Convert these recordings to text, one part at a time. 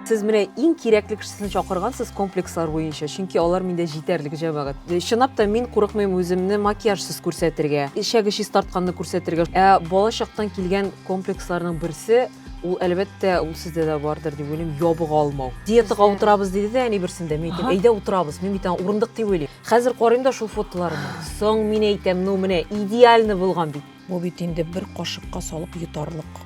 сез менә иң кирәкле кешесен чакыргансыз комплекслар буенча чөнки алар миндә җитәрлек җәмәгать э, чынлап та мин курыкмыйм үземне макияжсыз күрсәтергә эчәге чистартканны күрсәтергә ә балачактан килгән комплексларның берсе Ул әлбәттә ул сездә дә бардыр дип уйлыйм, ябык алмау. Диетага утырабыз диде дә әни берсендә, мин әйтәм, әйдә утырабыз, мин бит аңа урындык дип уйлыйм. Хәзер карыйм да шул фотоларны. Соң мин әйтәм, ну менә идеально булган бит. Бу бит инде бер кашыкка салып йотарлык.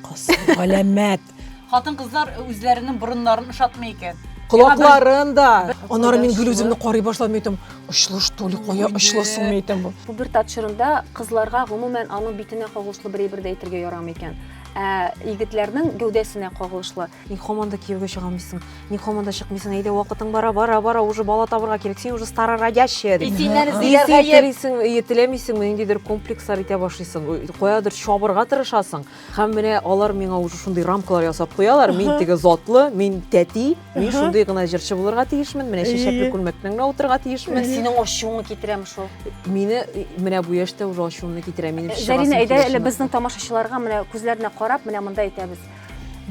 Кас, галәмәт. Хатын-кызлар үзләренең борыннарын ошатмый икән. Колакларын да. Аннары мин гел үземне карый башладым, әйтәм, очлы что ли, кая очлы соң әйтәм бу. Пубертат чорында кызларга гомумән аның битенә кагылышлы бер әйбер дә әйтергә ярамый икән. Ә егетләрнең гәүдәсенә кагылышлы. Ник һаман да кияүгә чыгамыйсың? Ник һаман да чыкмыйсың? Әйдә, вакытың бара, бара, бара, уже бала табырга кирәк. Син уже стара родящая. И синнән эзлиләр гаеп. Телисең, теләмисең, ниндидер комплекслар итә башлыйсың. Каядыр чабырга тырышасың. Һәм менә алар миңа уже шундый рамкалар ясап куялар. Мин теге затлы, мин тәти. Мин шундый гына җырчы булырга тиешмен, менә чәчәкле күлмәкнең генә утырырга тиешмен. Синең ачуыңны китерәм шул. Мине менә бу яшьтә уже ачуымны китерә. Минем э, Зарина, әйдә әле безнең тамашачыларга менә күзләренә карап, менә монда әйтәбез.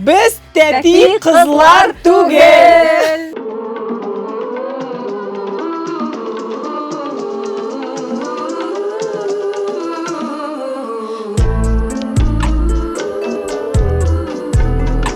Без тәти кызлар түгел.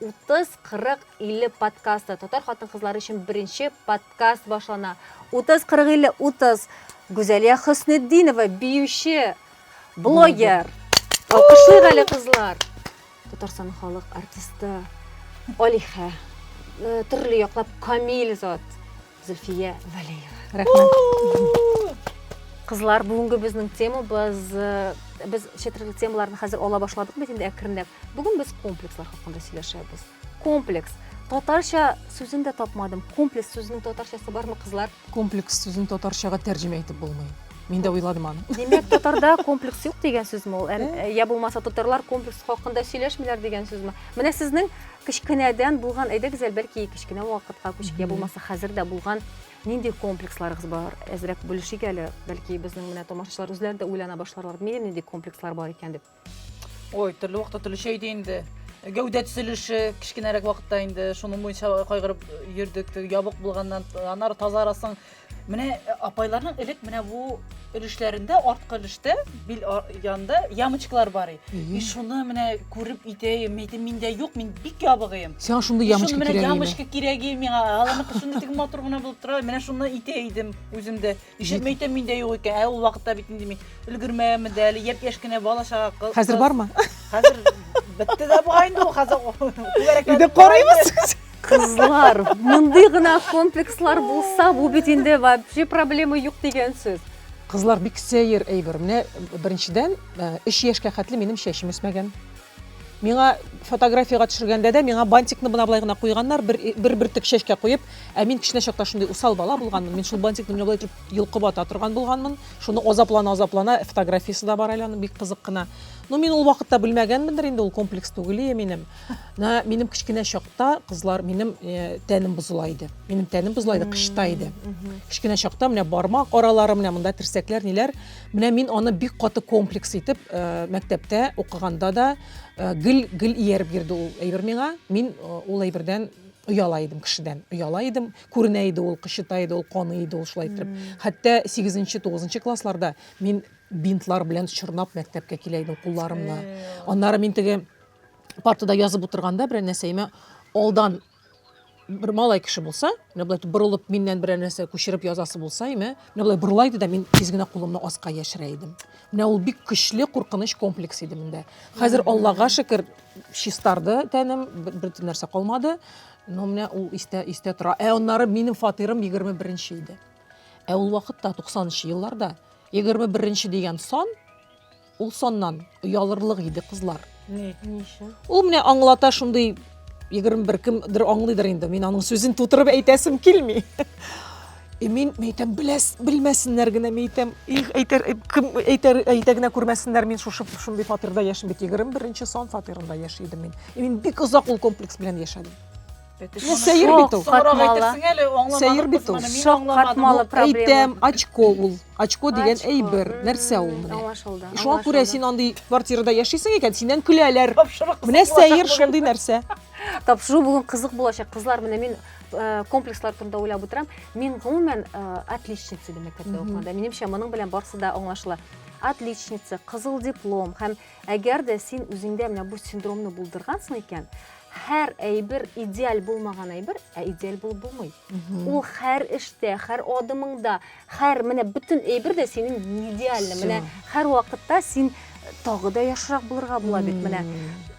Утыз, кырык, илле подкасты. Татар хатын-кызлары өчен беренче подкаст башлана. Утыз, кырык, илле, утыз. Гүзәлия Хөснетдинова, биюче, блогер. Алкышлыйк әле, кызлар. Татарстан халык артисты, алиһә, э, төрле яклап камил зат. Зөлфия Вәлиева. Рәхмәт. Кызлар, бүгенге безнең тема без э, без четверле темаларны хәзер ала башладык бит инде әкренләп. Бүген без комплекслар хакында сөйләшәбез. Комплекс. Татарча сүзен дә тапмадым. Комплекс сүзенең татарчасы бармы, кызлар? Комплекс сүзен татарчага тәрҗемә итеп булмый. Мин дә уйладым аны. Димәк, татарда комплекс юк дигән сүзме ул? Ә, э, я булмаса татарлар комплекс хакында сөйләшмиләр дигән сүзме? Менә сезнең Кечкенәдән булган, әйдә, Гүзәл, бәлки кечкенә вакытка күчеп, я булмаса хәзер дә булган нинди комплексларыгыз бар? Әзрәк бүлешик әле, бәлки безнең менә тамашачылар үзләре дә уйлана башларлар, нинди нинди комплекслар бар икән дип. Ой, төрле вакытта төрлечә иде инде. Гәүдә төзелеше кечкенәрәк вакытта инде шуның буенча кайгырып йөрдек. Ябык булганнан аннары тазарасың, Менә э, апайларның элек менә бу өлешләрендә, арткы өлештә, бил янында ямочкалар бар и. И шуны менә күреп итәем, әйтем, миндә юк, мин бик ябыгыем. Сиңа шундый ямочка кирәк. Менә ямочка кирәк и миңа. Аланы шундый тик матур гына булып тора. Менә шуны итә идем үземдә. Ишетеп әйтәм, миндә юк икән. Ә ул вакытта бит инде мин өлгермәгәнмен дә, әле япь-яшь кенә бала чага. Хәзер бармы? Хәзер бетте дә бугай инде ул хәзер. Иде карыйбыз. Кызлар, мондый гына комплекслар булса, бу бит инде вообще проблема юк дигән сүз. Кызлар бик сәер әйбер. Менә беренчедән 3 э, яшькә хәтле минем чәчем үсмәгән. Миңа фотографияга төшергәндә дә миңа бантикны бына былай гына куйганнар, бер бер бөртек чәчкә куеп, ә мин кечкенә чакта шундый усал бала булганмын. Мин шул бантикны менә былай итеп йолкып ата торган булганмын. Шуны азаплана азаплана фотографиясе дә бар әле аның бик кызык кына. Ну мин ул вакытта белмәгәнмендер инде ул комплекс түгел минем. Менә минем кечкенә чакта кызлар минем э, тәнем бозыла иде. Минем тәнем бозыла иде, кышта иде. Кечкенә чакта менә бармак аралары, менә монда терсәкләр, ниләр. Менә мин аны бик каты комплекс итеп э, мәктәптә укыганда да э, гел гел ияреп йөрде ул әйбер миңа. Мин э, ул әйбердән ояла идем кешедән. Ояла идем, күренә иде ул, кычыта иде ул, каны иде ул шулай итеп. Хәтта 8-9 классларда мин бинтлар белән чорнап мәктәпкә килә идем кулларымны. Аннары мин теге Партада язып утырганда берәр нәрсәемә алдан бер малай кеше булса, менә болай борылып миннән берәр нәрсә күчереп язасы булса, име, менә болай борыла иде дә мин тиз генә кулымны аска яшерә идем. Менә ул бик көчле куркыныч комплекс иде миндә. Хәзер Аллага шөкер, чистарды тәнем, бер нәрсә калмады. Но менә ул истә истә тора. Ә аннары минем фатирым 21-нче иде. Ә ул вакытта 90 нчы елларда 21 нче дигән сан Ул саннан оялырлык иде кызлар. Ни? Ни өчен? Ул менә аңлата шундый 21 кемдер аңлыйдыр инде. Мин аның сүзен тутырып әйтәсем килми. И мин әйтәм, беләс, белмәсеннәр генә, мин әйтәм, их, әйтер, кем әйтер, әйтә генә күрмәсеннәр, мин шушы шундый фатирда яшим бит. 21 нче сан фатирында яши идем мин. И мин бик озак ул комплекс белән яшәдем. Менә сәер бит ул. Соңрак әйтерсең әле, аңламадым. Сәер бит ул. Шаккатмалы проблема. Әйтәм, очко ул. Очко дигән әйбер. Нәрсә ул менә? Аңлашылды. Шуңа күрә син андый квартирада яшисең икән, синнән көләләр. Менә сәер шундый нәрсә. Тапшыру бүген кызык булачак. Кызлар, менә мин Э, комплекслар турында уйлап отырам мин гомумән э, отличница ди мәктәптә укыганда минемчә моның белән барысы да аңлашыла отличница кызыл диплом һәм Әгәр дә син үзеңдә менә бу синдромны булдыргансың икән, һәр әйбер идеаль булмаган әйбер, ә идеаль булып булмый. Ул һәр эштә, һәр адымыңда, һәр менә бөтен әйбер дә синең не идеальный. Менә һәр вакытта син тагы да яхшырак булырга була бит менә.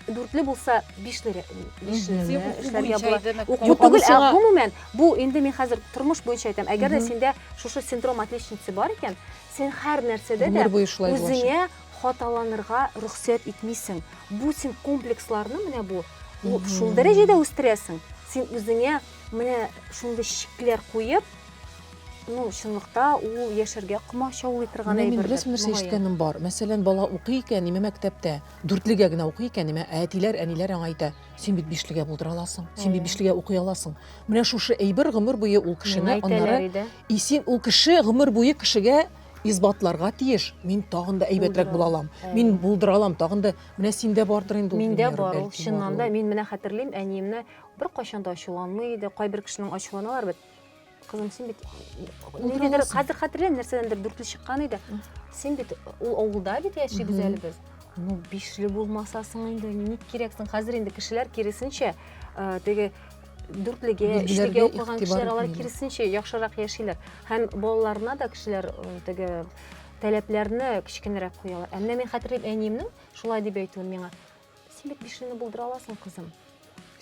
Дүртле булса, бишле бишле эшләргә була. Уку түгел, ә гомумән, бу инде мин хәзер тормыш буенча әйтәм. Әгәр дә синдә шушы синдром отличницы бар икән, син һәр нәрсәдә дә үзеңә хаталанырга рөхсәт итмисең. Бу син комплексларны менә бу шул дәрәҗәдә үстерәсең. Син үзеңә менә шундый шикләр куеп, ну, чынлыкта ул яшәргә комачаулый торган әйбер. Мин бераз нәрсә ишеткәнем бар. Мәсәлән, бала укый икән, име мәктәптә, дүртлегә генә укый икән, име әтиләр, әниләр аңа әйтә, син бит бишлегә булдыра аласың, син бит бишлегә укый аласың. Менә шушы әйбер гомер буе ул кешене аннары исен ул кеше гомер буе кешегә Исбатларга тиеш, мин тагын да әйбәтрәк була алам. Мин булдыра алам, тагын да менә синдә бардыр инде ул. Миндә бар ул, чыннан да. Мин менә хәтерлим, әниемне бер кайчан да ачуланмый иде. Кайбер кешенең ачуланалар бит. Кызым, син бит ниндидер хәтер хәтерләм, нәрсәдәндер дүртле чыккан иде. Син бит ул авылда бит яшибез әле без. Ну, бишле булмасасың инде, ник кирәксең? Хәзер инде кешеләр киресенчә, теге дүртлегә өчлегә укыган кешеләр алар киресенчә яхшырак яшиләр һәм балаларына да кешеләр теге таләпләрне кечкенәрәк куялар ә менә мин хәтерлим әниемнең шулай дип әйтүен миңа син бит бишене булдыра аласың кызым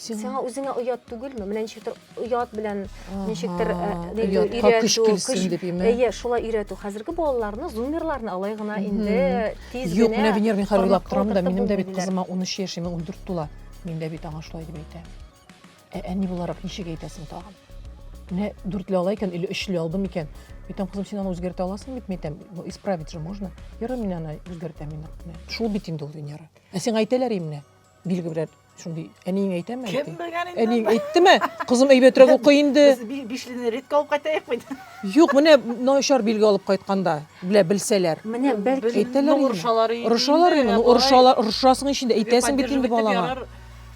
сиңа үзеңә оят түгелме менә ничектер оят белән ничектер әйе шулай өйрәтү хәзерге балаларны зумерларны алай гына инде тиз генә юк менә венер мин хәзер уйлап торам да минем дә бит кызыма ун өч яшь ун дүрт тула мин дә бит аңа шулай дип әйтәм Ә әни буларак ничек әйтәсең тагын? Менә дүртле ала икән или өчле алдым икән. Әйтәм, кызым, син аны үзгәртә аласың бит, әйтәм, ну, исправить же можно. Ярый, мин аны үзгәртәм инде. Шул бит инде ул Венера. Ә сиңа әйтәләр имне? Билге белән шундый әниең әйтәме? Кем белгән инде? Әниең әйттеме? Кызым әйбәтрәк укый инде. Без бишлене редко алып кайтаек бит. Юк, менә начар билге алып кайтканда, белә белсәләр. Менә бәлки әйтәләр. Урышалар инде. Урышалар инде. Урышалар, урышасың ич инде, әйтәсең бит инде балаңа.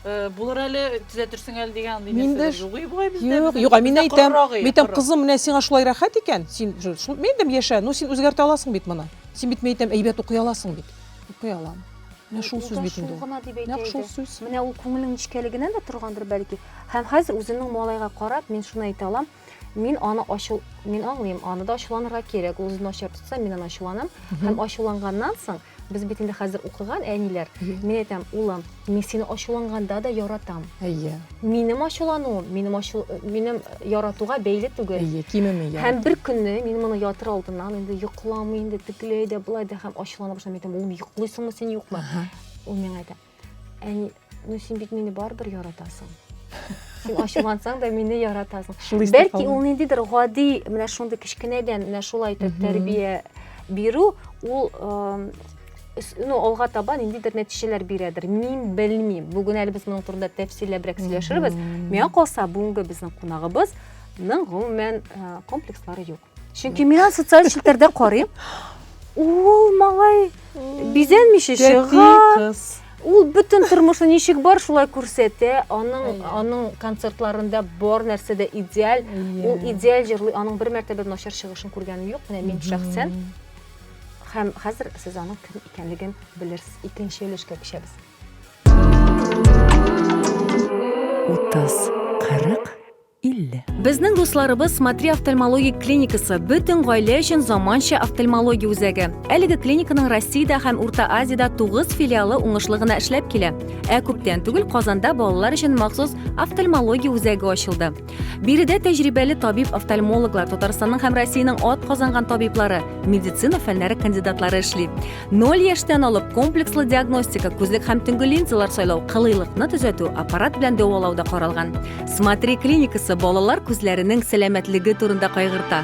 Булыр әле, төзәтерсең әле дигән андый нәрсә. Миндә югый бугай бездә. Юк, юк, мин әйтәм, митәм кызым, менә сиңа шулай рәхәт икән, син шул мендем яшә, ну син үзгәртә аласың бит моны. Син бит митәм әйбәт укый аласың бит. Укый алам. Менә шул сүз бит инде. Нәкъ шул сүз. Менә ул күңелнең нечкәлегеннән дә торгандыр бәлки. Һәм хәзер үземнең малайга карап, мин шуны әйтә алам. мин аны ачу мин аңлыйм аны да ачуланырга кирәк ул үзен ачып тотса мин аны ачуланам һәм ачуланганнан соң без бит инде хәзер укыган әниләр мин әйтәм улым мин сине ачуланганда да яратам әйе минем ачулануым минем ачу минем яратуга бәйле түгел әйе кимеми һәм бер көнне мин моны ятыр алдыннан инде йокламый инде тегеләй дә былай да һәм ачулана башлады мин әйтәм улым йоклыйсыңмы син юкмы ул миңа әйтә Әни, ну син бит мине барыбер яратасың. Син ачулансаң да мине яратасың. Бәлки ул ниндидер гади, менә шундый кечкенәдән менә шулай итеп тәрбия бирү, ул ну, алга таба ниндидер нәтиҗәләр бирәдер. Мин белмим. Бүген әле без моның турында тәфсилләбрәк сөйләшербез. Миңа калса, бүгенге безнең кунагыбыз ның гомумән комплекслары юк. Чөнки мин аны социаль челтәрдә карыйм. Ул малай бизәнмичә чыга. Ул бөтен тормышы ничек бар, шулай күрсәтә. Аның аның концертларында бар нәрсә дә идеаль. Ул идеаль җырлый. Аның бер мәртәбә начар чыгышын күргәнем юк, менә мин шәхсән. Һәм хәзер сез аның кем икәнлеген белерсез. Икенче өлешкә күчәбез. 30, 40 50. Безнең дусларыбыз Смотри офтальмологик клиникасы бөтен гаилә өчен заманча офтальмология үзәге. Әлеге клиниканың Россиядә һәм Урта Азиядә 9 филиалы уңышлы гына эшләп килә. Ә күптән түгел Казанда балалар өчен махсус офтальмология үзәге ачылды. Биредә тәҗрибәле табиб-офтальмологлар, Татарстанның һәм Россиянең атказанган табиблары, медицина фәннәре кандидатлары эшли. Ноль яшьтән алып комплекслы диагностика, күзлек һәм төнге линзалар сайлау, кылыйлыкны төзәтү, аппарат белән дәвалау да каралган. Смотри клиникасы балалар күзләренең сәламәтлеге турында кайгырта.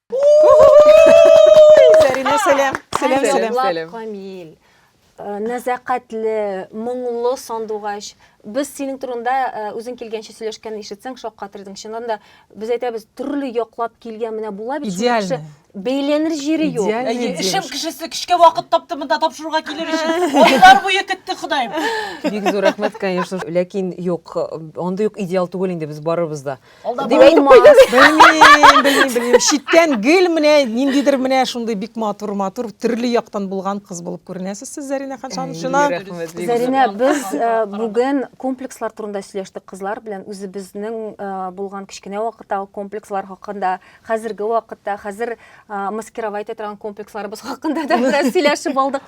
Зәринә, сәлам. Сәлам, сәлам. Сәлам. Камил. Э, нәзәкатьле, моңлы сандугач. Без синең турында э, үзең килгәнче сөйләшкән ишетсәң шаккатыр идең. Чыннан да без әйтәбез, төрле яклап килгән менә була бит. Идеально. Бәйләнер җире юк. Эшем кешесе кичкә вакыт тапты монда тапшыруга килер өчен. Айлар буе көтте Ходаем. Бик зур рәхмәт, конечно. Ләкин юк, андый юк идеал түгел инде без барыбыз да. Дип әйтеп куйды. Белмим, белмим, белмим. Читтән гел менә ниндидер менә шундый бик матур, матур, төрле яктан булган кыз булып күренәсез сез, Зәринә Ханшан. Чына. Зәринә, без бүген комплекслар турында сөйләштек кызлар белән. Үзебезнең булган кечкенә вакыттагы комплекслар хакында, хәзерге вакытта, хәзер маскировать итә торган комплексларыбыз хакында да бераз сөйләшеп алдык.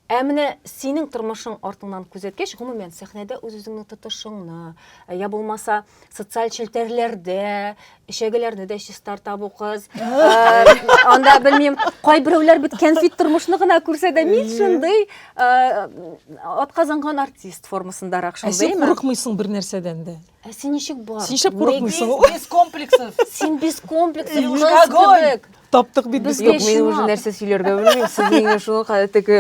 Ә менә синең тормышың артыңнан күзәткәч, гомумән, сәхнәдә үз-үзеңне тотышыңны, я булмаса, социаль челтәрләрдә эчәгеләрне дә чистарта бу кыз анда белмим кайберәүләр бит кәнфит тормышны гына күрсә дә мин шундый атказанган артист формасындарак шундый ә син курыкмыйсың бер нәрсәдән дә ә син ничек бар син ничек курыкмыйсың без комплексов син без комплексов кебек Таптык бит без. Юк, мин уже нәрсә сөйләргә белмим. Сез миңа шуны кадәр теге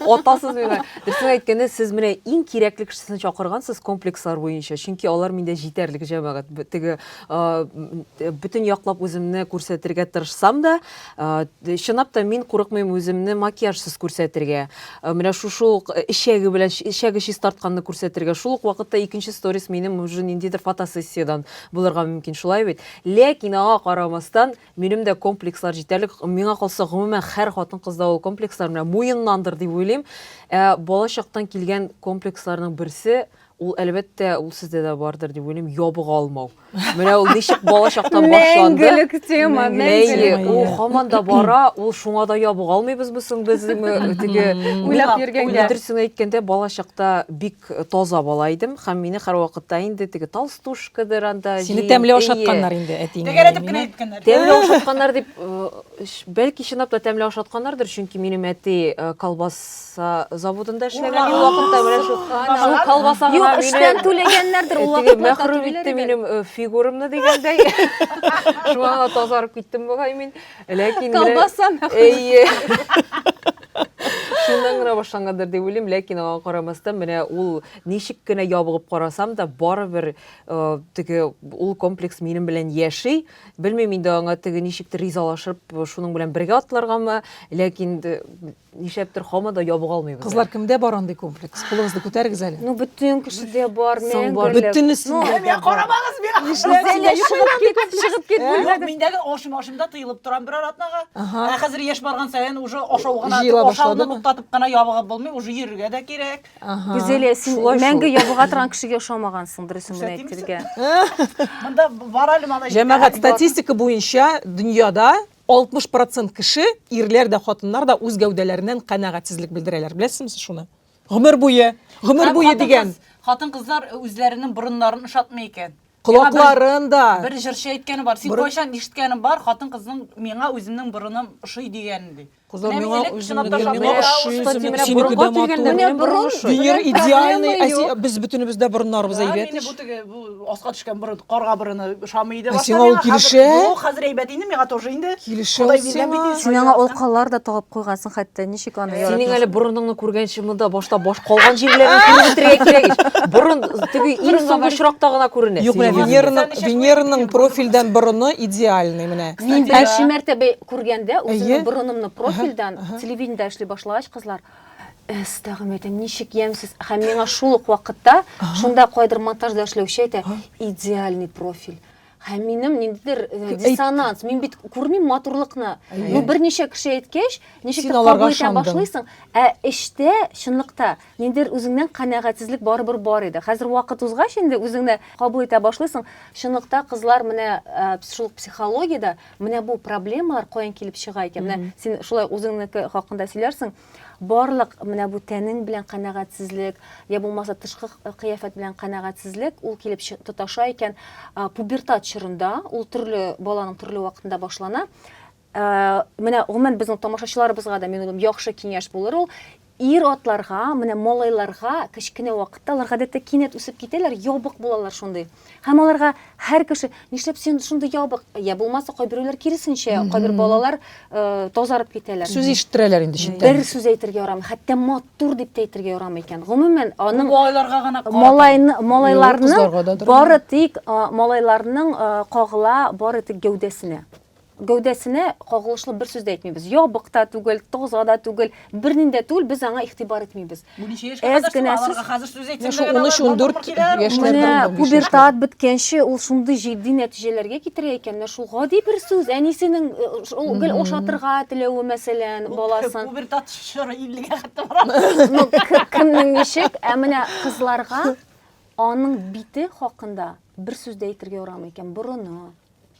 атасыз миңа. Дөресен әйткәндә, сез менә иң кирәкле кешесен чакыргансыз комплекслар буенча. Чөнки алар миндә җитәрлек җәмәгать. Теге бөтен яклап үземне күрсәтергә тырышсам да, чынлап та мин курыкмыйм үземне макияжсыз күрсәтергә. Менә шушы ук эчәге белән эчәге чистартканны күрсәтергә. Шул ук вакытта икенче сторис минем уже ниндидер фотосессиядән булырга мөмкин. Шулай бит? Ләкин аңа карамастан, Минем дә комплекслар җитәрлек. Миңа калса, гомумән, һәр хатын-кызда ул комплекслар менә муеннандыр дип уйлыйм. Ә бала чактан килгән комплексларның берсе, ул, әлбәттә, ул сездә дә бардыр дип уйлыйм, ябыга алмау. Менә ул ничек бала чактан башланды. Мәңгелек тема, мәңгелек. Әйе, ул һаман да бара, ул шуңа да ябыга алмыйбызмы соң без? Теге, уйлап йөргәнгә. Дөресен әйткәндә, бала чакта бик Бик таза бала идем һәм мине һәрвакытта инде теге толстушкадыр анда җыеп. Сине тәмле ашатканнар инде әтиең. Тәгәрәтеп кенә әйткәннәр. Тәмле ашатканнар дип, бәлки чынлап та тәмле ашатканнардыр, чөнки минем әти колбаса заводында эшләгән иде вакытта, менә шул колбаса гына мине. Юк, эштән түләгәннәрдер ул вакытта. Мәхрүм итте минем фигурамны дигәндәй. Шуңа тазарып киттем бугай мин. Ләкин менә- Колбаса мәхәл. Әйе. Шуннан гына башлангандыр дип уйлыйм, ләкин аңа карамастан менә ул ничек кенә ябыгып карасам да, барыбер э, теге ул комплекс минем белән яши. Белмим инде аңа теге ничектер ризалашып шуның белән бергә атларгамы, ләкин д- Нишләптер һаман да ябыга алмыйбыз. Кызлар, кемдә бар андый комплекс? Кулыгызны күтәрегез әле. Ну, бөтен кешедә бар, мәңгелек. Бөтенесендә дә бар. Карамагыз миңа! Нишләп? Чыгып кит, чыгып кит бүлмәдән. Миндәге ашым, ашымда тыелып торам берәр атнага. Ә хәзер яшь барган саен уже ашау гына, ашауны туктатып кына ябыгып булмый, уже йөрергә дә кирәк. Гүзәлия, син мәңге ябыга торган кешегә ошамагансың, дөресен генә әйтергә. Монда бар әле малай. Җәмәгать, статистика буенча дөньяда 60 процент кеше, ирләр дә, хатыннар да үз гәүдәләреннән канәгатьсезлек белдерәләр. Беләсезме сез шуны? Гомер буе, гомер буе дигән. Хатын-кызлар үзләренең борыннарын ошатмый икән. Колакларын да. Бер җырчы әйткәне бар. Син кайчан ишеткәнең бар, хатын-кызның миңа үземнең борыным ошый дигәнен ди. Кызлар миңа үземнең борыным ошый, синеке дә матур. Венера идеальный, без бөтенебез дә борыннарыбыз әйбәт. аска төшкән борын, карга борыны ошамый иде. Ә сиңа ул килешә? Юк, хәзер әйбәт инде, миңа тоже инде. Килешә ул сиңа. Син аңа алкалар да тагып куйгансың хәтта, ничек аны яратасың? Синең әле борыныңны күргәнче монда башта баш калган җирләрен күреп бетерергә кирәк ич. Борын теге иң соңгы очракта гына күренә. Юк, менә Венераның, Венераның профильдән борыны идеальный менә. Мин беренче мәртәбә күргәндә үземнең борынымны профильдән телевидениедә эшли башлагач, кызлар, Эс, тәгъм әйтәм, ничек ямьсез. Һәм миңа шул ук вакытта шунда кайдыр монтажда эшләүче әйтә, идеальный профиль. Һәм минем ниндидер э, диссонанс, мин бит күрмим матурлыкны. Ну берничә кеше әйткәч, ничек кабул итә башлыйсың, ә эштә чынлыкта ниндидер үзеңнән канәгатьсезлек барыбер бар иде. Хәзер вакыт узгач инде үзеңне кабул итә башлыйсың. Чынлыкта кызлар менә э, шул психологиядә Менә бу проблемалар каян килеп чыга икән? Менә син шулай үзеңнеке хакында сөйләрсең. Барлык менә бу тәнең белән канәгатьсезлек, я булмаса тышкы кыяфәт белән канәгатьсезлек ул килеп тоташа икән. Пубертат чорында ул төрле баланың төрле вакытында башлана. Менә гомумән безнең тамашачыларыбызга да мин уйлыйм, яхшы киңәш булыр ул. Ир-атларга, менә малайларга кечкенә вакытта алар гадәттә кинәт үсеп китәләр, ябык булалар шундый. Һәм аларга һәр кеше, нишләп син шундый ябык? Я булмаса, кайберәүләр киресенчә, кайбер балалар тазарып китәләр. Сүз ишеттерәләр инде читтән. Бер сүз әйтергә ярамый, хәтта матур дип тә әйтергә ярамый икән. Гомумән, аның малайларга гына карата. Малайны, малайларны бары тик малайларның кагыла, бары тик гәүдәсенә. гәүдәсенә кагылышлы бер сүз дә әйтмибез. Ябык та түгел, таза да түгел, бернинди дә түгел, без аңа игътибар итмибез. Бу ничә яшькә Әз кадәр генә соң? Аларга хәзер сүз әйтсәң, Шул дә 13-14 киләләр, яшьләрдән Менә Шулай да пубертат беткәнче ул шундый җитди нәтиҗәләргә китерә икән, менә шул гади бер сүз, әнисенең э, ш- ул гел ошатырга теләве, мәсәлән, баласын. Пубертат чоры 50-гә хәтта бара. Ну, к- кемнең ничек, ә менә кызларга аның бите хакында бер сүз дә әйтергә ярамый икән, борыны,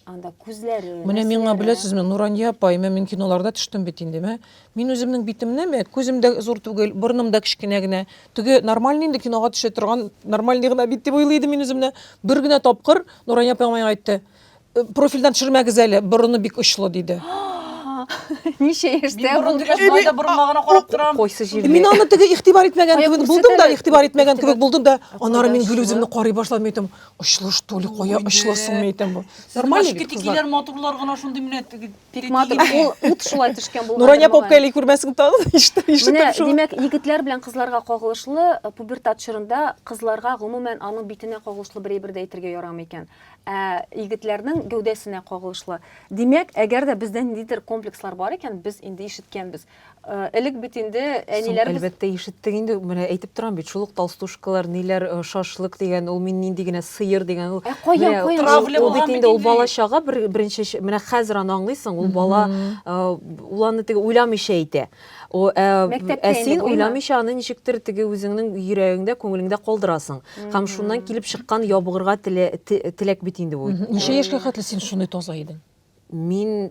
анда күзләре менә миңа беләсезме нурания апай мен мин киноларда төштем бит инде мә мин үземнең битемне мә күзем дә зур түгел борыным да кечкенә генә теге нормальный инде кинога төшә торган нормальный гына бит дип уйлый идем мин үземне бер генә тапкыр нурания апа миңа әйтте «Э, профильдән төшермәгез әле борыны бик очлы диде ничә яшьтә ул дигән да борынга гына карап торам кайсы җирдә мин аны теге игътибар итмәгән кебек булдым да игътибар итмәгән кебек булдым да аннары мин гел үземне карый башладым әйтәм Очлы что ли, кая очлы сумма итәм бу. Нормально бит кызлар. Тикиләр матурлар гына шундый менә тик матур. Ул ут шулай төшкән булган. Нурания попка или күрмәсең тагы ишетеп ишетеп. Менә димәк, егетләр белән кызларга кагылышлы э, пубертат чорында кызларга гомумән аның битенә кагылышлы бер әйбер дә әйтергә ярамый икән. Ә егетләрнең гәүдәсенә кагылышлы. Димәк, әгәр дә бездә ниндидер комплекслар бар икән, без инде ишеткәнбез. Э, элек бит инде әниләребез әлбәттә ишеттек инде менә әйтеп торам бит шул ук толстушкалар ниләр э, шашлык дигән ул мин нинди генә сыер дигән ул ә каян каян ул бит инде ул бала чага бер, беренче менә хәзер аны аңлыйсың ул бала э, ул аны теге уйламыйча әйтә о ә син уйламыйча аны ничектер теге үзеңнең йөрәгеңдә күңелеңдә калдырасың һәм шуннан килеп чыккан ябыгырга теләк бит инде бу ничә яшькә хәтле син шундый таза идең Мин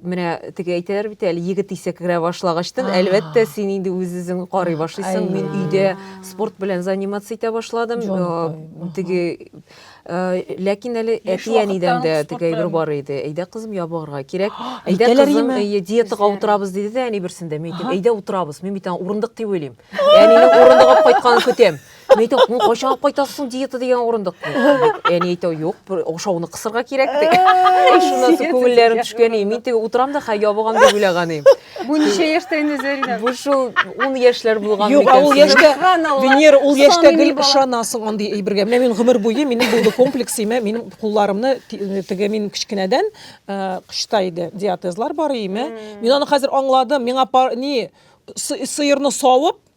менә теге әйтәләр бит әле егет исә керә башлагачтан әлбәттә син инде үз үзең карый башлыйсың мин өйдә спорт белән заниматься итә башладым теге ләкин әле әти әнидән дә теге әйбер бар иде әйдә кызым ябыгырга кирәк әйдә кызым диетага утырабыз диде дә әни берсендә мин әйттем әйдә утырабыз мин бит аны урындык дип уйлыйм әнинең урындык алып кайтканын көтәм Мин әйтәм, ну кайчан алып кайтасыз соң диета дигән урындык? Әни әйтә, юк, бер ашауны кысырга кирәк ди. Эй, Шуннан соң күңелләрем төшкән, и, мин теге утырам да, хә ябыгам дип уйлаган идем. Бу ничә яшьтә инде Зәринә? Бу шул ун яшьләр булган Юк, а ул микән? яшьтә, Субханалла. Венера, ул яшьтә Саный гел бала. ышанасың андый әйбергә. Менә мин гомер буе минем булды комплекс, имә, минем кулларымны ти- теге мин кечкенәдән э, кычыта иде, диатезлар бар име. Мин аны хәзер аңладым. Миңа пар, ни сы- сыерны савып,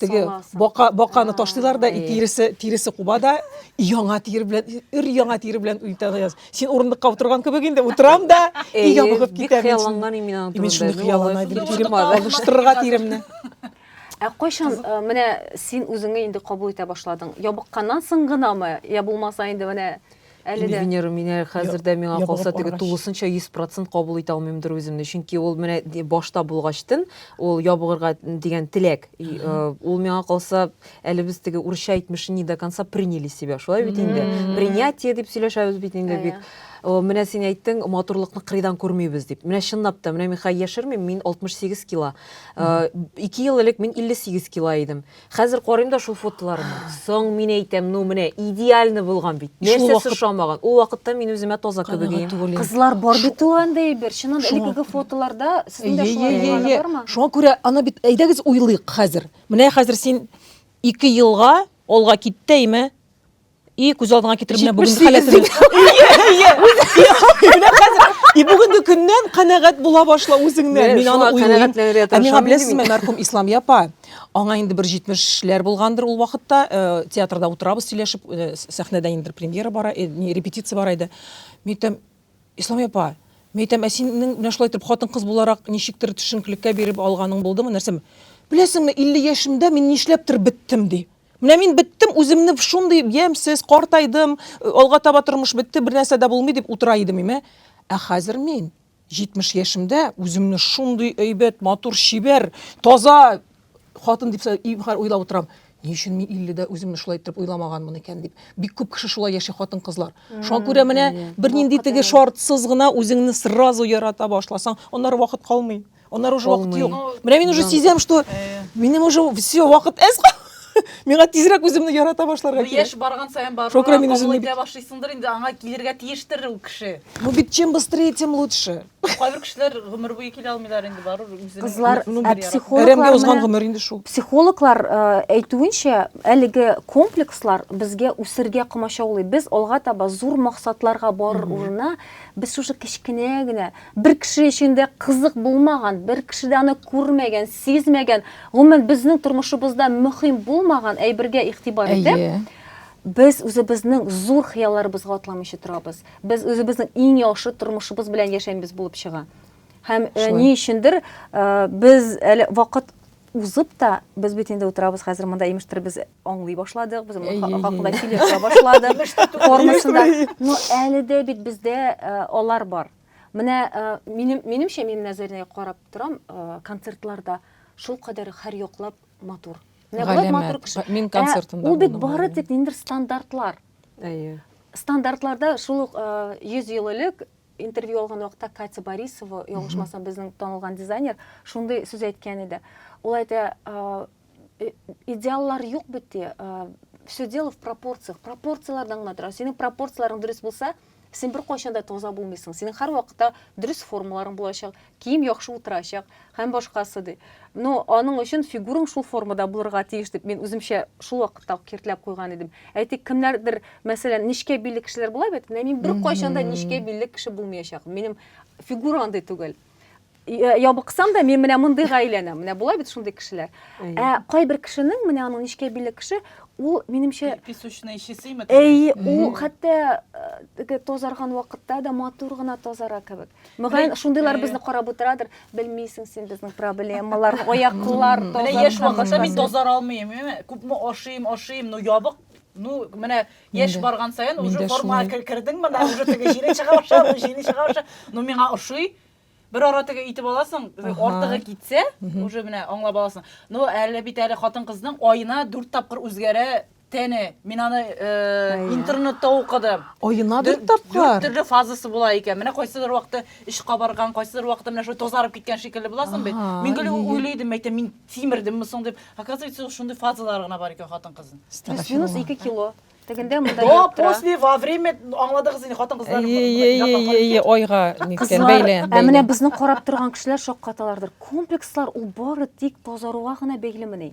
теге бака баканы ташлыйлар да тиресе тиресе куба да яңа тир белән өр яңа тир белән үтәгән син урындыкка утырган кебек инде утырам да өйгә бөгеп китәм хыялланган мин аны мин шуны хыяллана идем тирем алыштырырга тиремне Ә кайчан э, менә син үзеңне инде кабул итә башладың? Ябыкканнан соң гынамы? Я булмаса инде менә Әле дә. Венера, менә хәзер дә миңа Ябыгып калса, теге баргач. тулысынча 100% кабул итә алмыймдыр үземне. Чөнки ул менә ди- башта булгачтын, ул ябыгырга дигән теләк. И, э, Ул миңа калса, әле без теге урысча әйтмешне не до конца приняли себя. Шулай бит инде. Мгм. Принятие дип сөйләшәбез бит инде Ә, бик. О, Менә син әйттең, матурлыкны кырыйдан күрмибез дип. Менә чынлап та, менә мин хәзер яшермим, мин 68 кило. Э, Ике ел элек мин 58 кило идем. Хәзер карыйм да шул фотоларны. Соң мин әйтәм, ну менә идеальный булган бит. Нәрсәсе ошамаган? Ул вакытта мин үземә таза кебек идем. Кызлар бар бит ул анда әйбер. Чыннан элеккеге фотоларда сезнең дә шулай булганы бармы? Шуңа күрә аны бит әйдәгез уйлыйк хәзер. Менә хәзер син ике елга алга кит тә име? И күз алдыңа китереп менә бүгенге халәтен. И бүгенге көннән канәгать була башла үзеңнән. Мин аны уйлыйм. Ә миңа беләсезме, мәрхүм Ислам япа, аңа инде бер 70-ләр булгандыр ул вакытта, э, театрда утырабыз сөйләшеп, э, сәхнәдә инде премьера бара, э, не репетиция бара иде. Митем, Ислам япа, митем, ә синең менә шулай итеп хатын-кыз буларак ничектер төшенкелеккә биреп алганың булдымы, нәрсәме? Беләсеңме, 50 яшемдә мин нишләптер беттем ди. Менә мин беттем, үземне шундый ямьсез, картайдым, э, алга таба тормыш бетте, бер нәрсә дә булмый дип утыра идем име. Ә хәзер мин 70 яшемдә үземне шундый әйбәт, матур, чибәр, таза хатын дип һәр уйлап утырам. Ни өчен мин 50-дә үземне шулай итеп уйламаганмын икән дип. Бик күп кеше шулай яши хатын-кызлар. Шуңа күрә менә бернинди теге шартсыз гына үзеңне сразу ярата башласаң, аннары вакыт калмый. Аннары уже вакыт юк. Менә мин уже сизәм, что минем уже все вакыт әз калды. Миңа тизрәк үземне ярата башларга кирәк. Яшь барган саен барып, Шокра мин үземне бит... башлыйсыңдыр инде, аңа килергә тиештер ул кеше. Ну бит чем быстрее, тем лучше. Кайбер кешеләр гомер буе килә алмыйлар инде бару үзенең. Кызлар, ну, ә психологлар узган гомер инде шул. Психологлар әйтүенчә, әлеге комплекслар безгә үсергә комачаулый. Без алга таба зур максатларга барыр урынына, без шушы кечкенә генә Бер кеше өчен дә кызык булмаган, бер кеше дә аны күрмәгән, сизмәгән, гомумән, безнең тормышыбызда мөһим булмаган әйбергә игътибар итеп, Әйе. без үзебезнең зур хыялларыбызга атламыйча торабыз. Без үзебезнең иң яхшы тормышыбыз белән яшәмибез булып чыга. Һәм, э, Шулай. ни өчендер, э, без әле вакыт Узып та, без бит инде утырабыз хәзер монда, имештер без аңлый башладык, без моның хакында сөйләшә башладык. Формасында. Но әле дә бит бездә алар бар. Менә минем минемчә мин менә Заринәгә карап торам, концертларда шул кадәр һәр яклап матур. Менә болай матур кеше. Мин концертында. Ул бит бары тик ниндер стандартлар. Әйе. Стандартларда шул ук 100 ел элек Интервью алган вакытта Катя Борисова, ялгышмасам, безнең танылган дизайнер, шундый сүз әйткән иде. Ул әйтә, э, идеаллар юк бит ди, э, все дело в пропорциях. Пропорцияләрдән генә тора. Синең пропорцияләрең дөрес булса, син бер кайчан да таза булмыйсың. Синең һәр вакытта дөрес формаларың булачак, кием яхшы утырачак һәм башкасы ди. Но аның өчен фигураң шул формада булырга тиеш дип мин үземчә шул вакытта ук киртләп куйган идем. Әйтик, кемнәрдер, мәсәлән, нечкә билле кешеләр була бит, менә мин беркайчан да нечкә билле кеше булмаячак. Минем фигура андый түгел. Э, ябыксам да мин менә мондыйга әйләнәм. Менә була бит шундый кешеләр. Ә кайбер кешенең, менә аның нечкә билле кеше, ул минемчә песочный чистыймы? Әй, ул хәтта э, тазарган вакытта да матур гына тазара кебек. Мөгаен, шундыйлар безне карап утырадыр. Белмисең син безнең проблемалар, аяклар, таза. Яшь вакытта мин тазар алмыйм, күпме ашыйм, ашыйм, но ябык ну менә яшь барган саен уже формага кердең менә уже теге җиле чыга башлады җиле чыга башлады но миңа ошый бер ара теге итеп аласың артыгы китсә уже менә аңлап аласың но әле бит әле хатын кызның аена дүрт тапкыр үзгәрә Тәне, мин аны э, интернетта укыдым. Аена бер тапкыр. Дүрт төрле фазасы була икән. Менә кайсыдыр вакытта эш кабарган, кайсыдыр вакытта менә шулай тазарып киткән шикелле буласың бит. Мин гел уйлыйдым, мәйтәм, мин тимердемме соң дип. Оказывается, шундый фазалар гына бар икән хатын-кызның. Плюс-минус 2 кило. Тегендә монда До, после, во время, аңладыгыз инде, хатын-кызлар. Ие, айга ниткән бәйле. Ә менә безне карап торган кешеләр шаккаталардыр. Комплекслар ул бары тик тазаруга гына бәйлемени?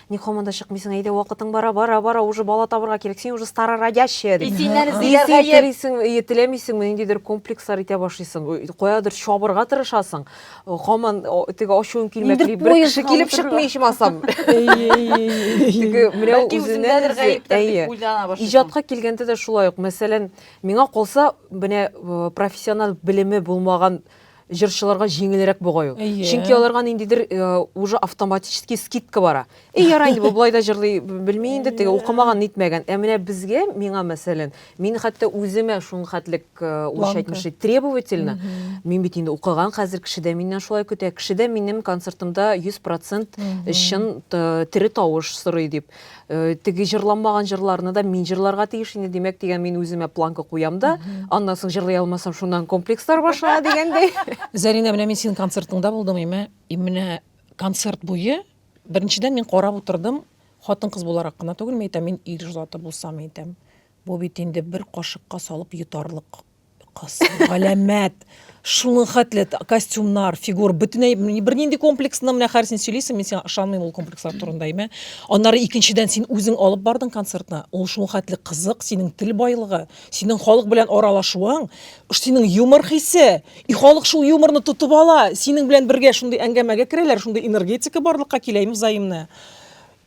Ник һаман да чыкмыйсың, әйдә вакытың бара, бара, бара, уже бала табырга кирәк, син уже старородящая дип. И синнән эзлиләр Исең гаеп. телисең, и теләмисеңме, ниндидер комплекслар итә башлыйсың, каядыр чабырга тырышасың, һаман о, теге ачуың Инде килмәкли, бер кеше поездга килеп утырырга. чыкмый ичмасам. Теге менә Бәлки үзеннән үземдәдер үзе, гаептер әйе. дип уйлана башлыйсың. Иҗатка килгәндә дә шулай ук, мәсәлән, миңа калса, менә э, профессиональ белеме булмаган җырчыларга җиңелрәк бугай ул. Чөнки аларга ниндидер уже автоматически скидка бара. И ярай инде бу болай да җырлый белми инде, теге укымаган, нитмәгән. Ә менә безгә, миңа мәсәлән, мин хәтта үземә шул хәтлек урысча әйтмешли требовательно. Мин бит инде укыган хәзер, кеше дә миннән шулай көтә. Кеше дә минем концертымда 100% чын тере тавыш сорый дип. э, теге җырланмаган җырларны да мин җырларга тиеш инде димәк дигән мин үземә планка куям да аннан соң җырлый алмасам шуннан комплекслар башлана дигәндәй Зәринә, менә мин синең концертыңда булдым, имә, и менә концерт буе, беренчедән мин карап утырдым, хатын-кыз буларак кына түгел, мин әйтәм, мин ир заты булсам, әйтәм, бу бит инде бер кашыкка салып йотарлык Кыз, галәмәт. Шуның хәтле т- костюмнар, фигур, бөтенләй м- бер нинди комплексны менә хәзер син сөйлисең, мин сиңа ышанмыйм ул комплекслар турында, әйме? Аннары икенчедән син үзең алып бардың концертны. Ул шуның хәтле кызык, синең тел байлыгы, синең халык белән аралашуың, ш- синең юмор хисе. И халык шул юморны тотып ала. Синең белән бергә шундый әңгәмәгә керәләр, шундый энергетика барлыкка килә, әйме, взаимная.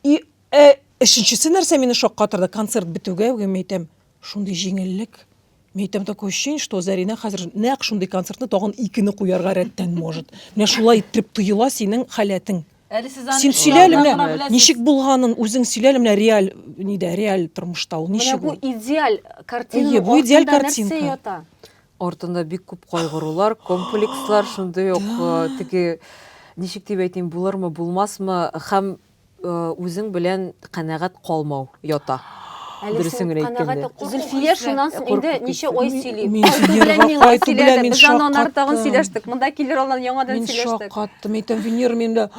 И э, өченчесе нәрсә мине шаккатырды, концерт бетүгә үк мин әйтәм, Шундый җиңеллек. Мин әйтәм такое ощущение, что Зәринә хәзер нәкъ шундый концертны тагын икене куярга рәттән может. Менә шулай иттереп тоела синең халәтең. Әле сез аны Син сөйлә әле менә беләсез. ничек булганын, үзең сөйлә әле менә реаль нидә, реаль тормышта ул ничек ул? Менә бу идеаль картинаның Әйе, бу идеаль артында нәрсә картинка. ята? Артында бик күп кайгырулар, комплекслар, шундый ук теге ничек дип әйтим, булырмы, булмасмы һәм үзең белән канәгать калмау ята. Әле Дөресен син генә әйткәндә. канәгате курку Зөлфия хисләре. шуннан соң инде Куркып ничә китте. ай Мин- сөйли. мин Кайту белән Венерга миңа кайту белән сөйләде. мин Без аннан ары тагын шаккаттым. сөйләштек. Монда килер алдан яңадан Мин сөйләштек. шаккаттым, әйтәм, Венера минем белән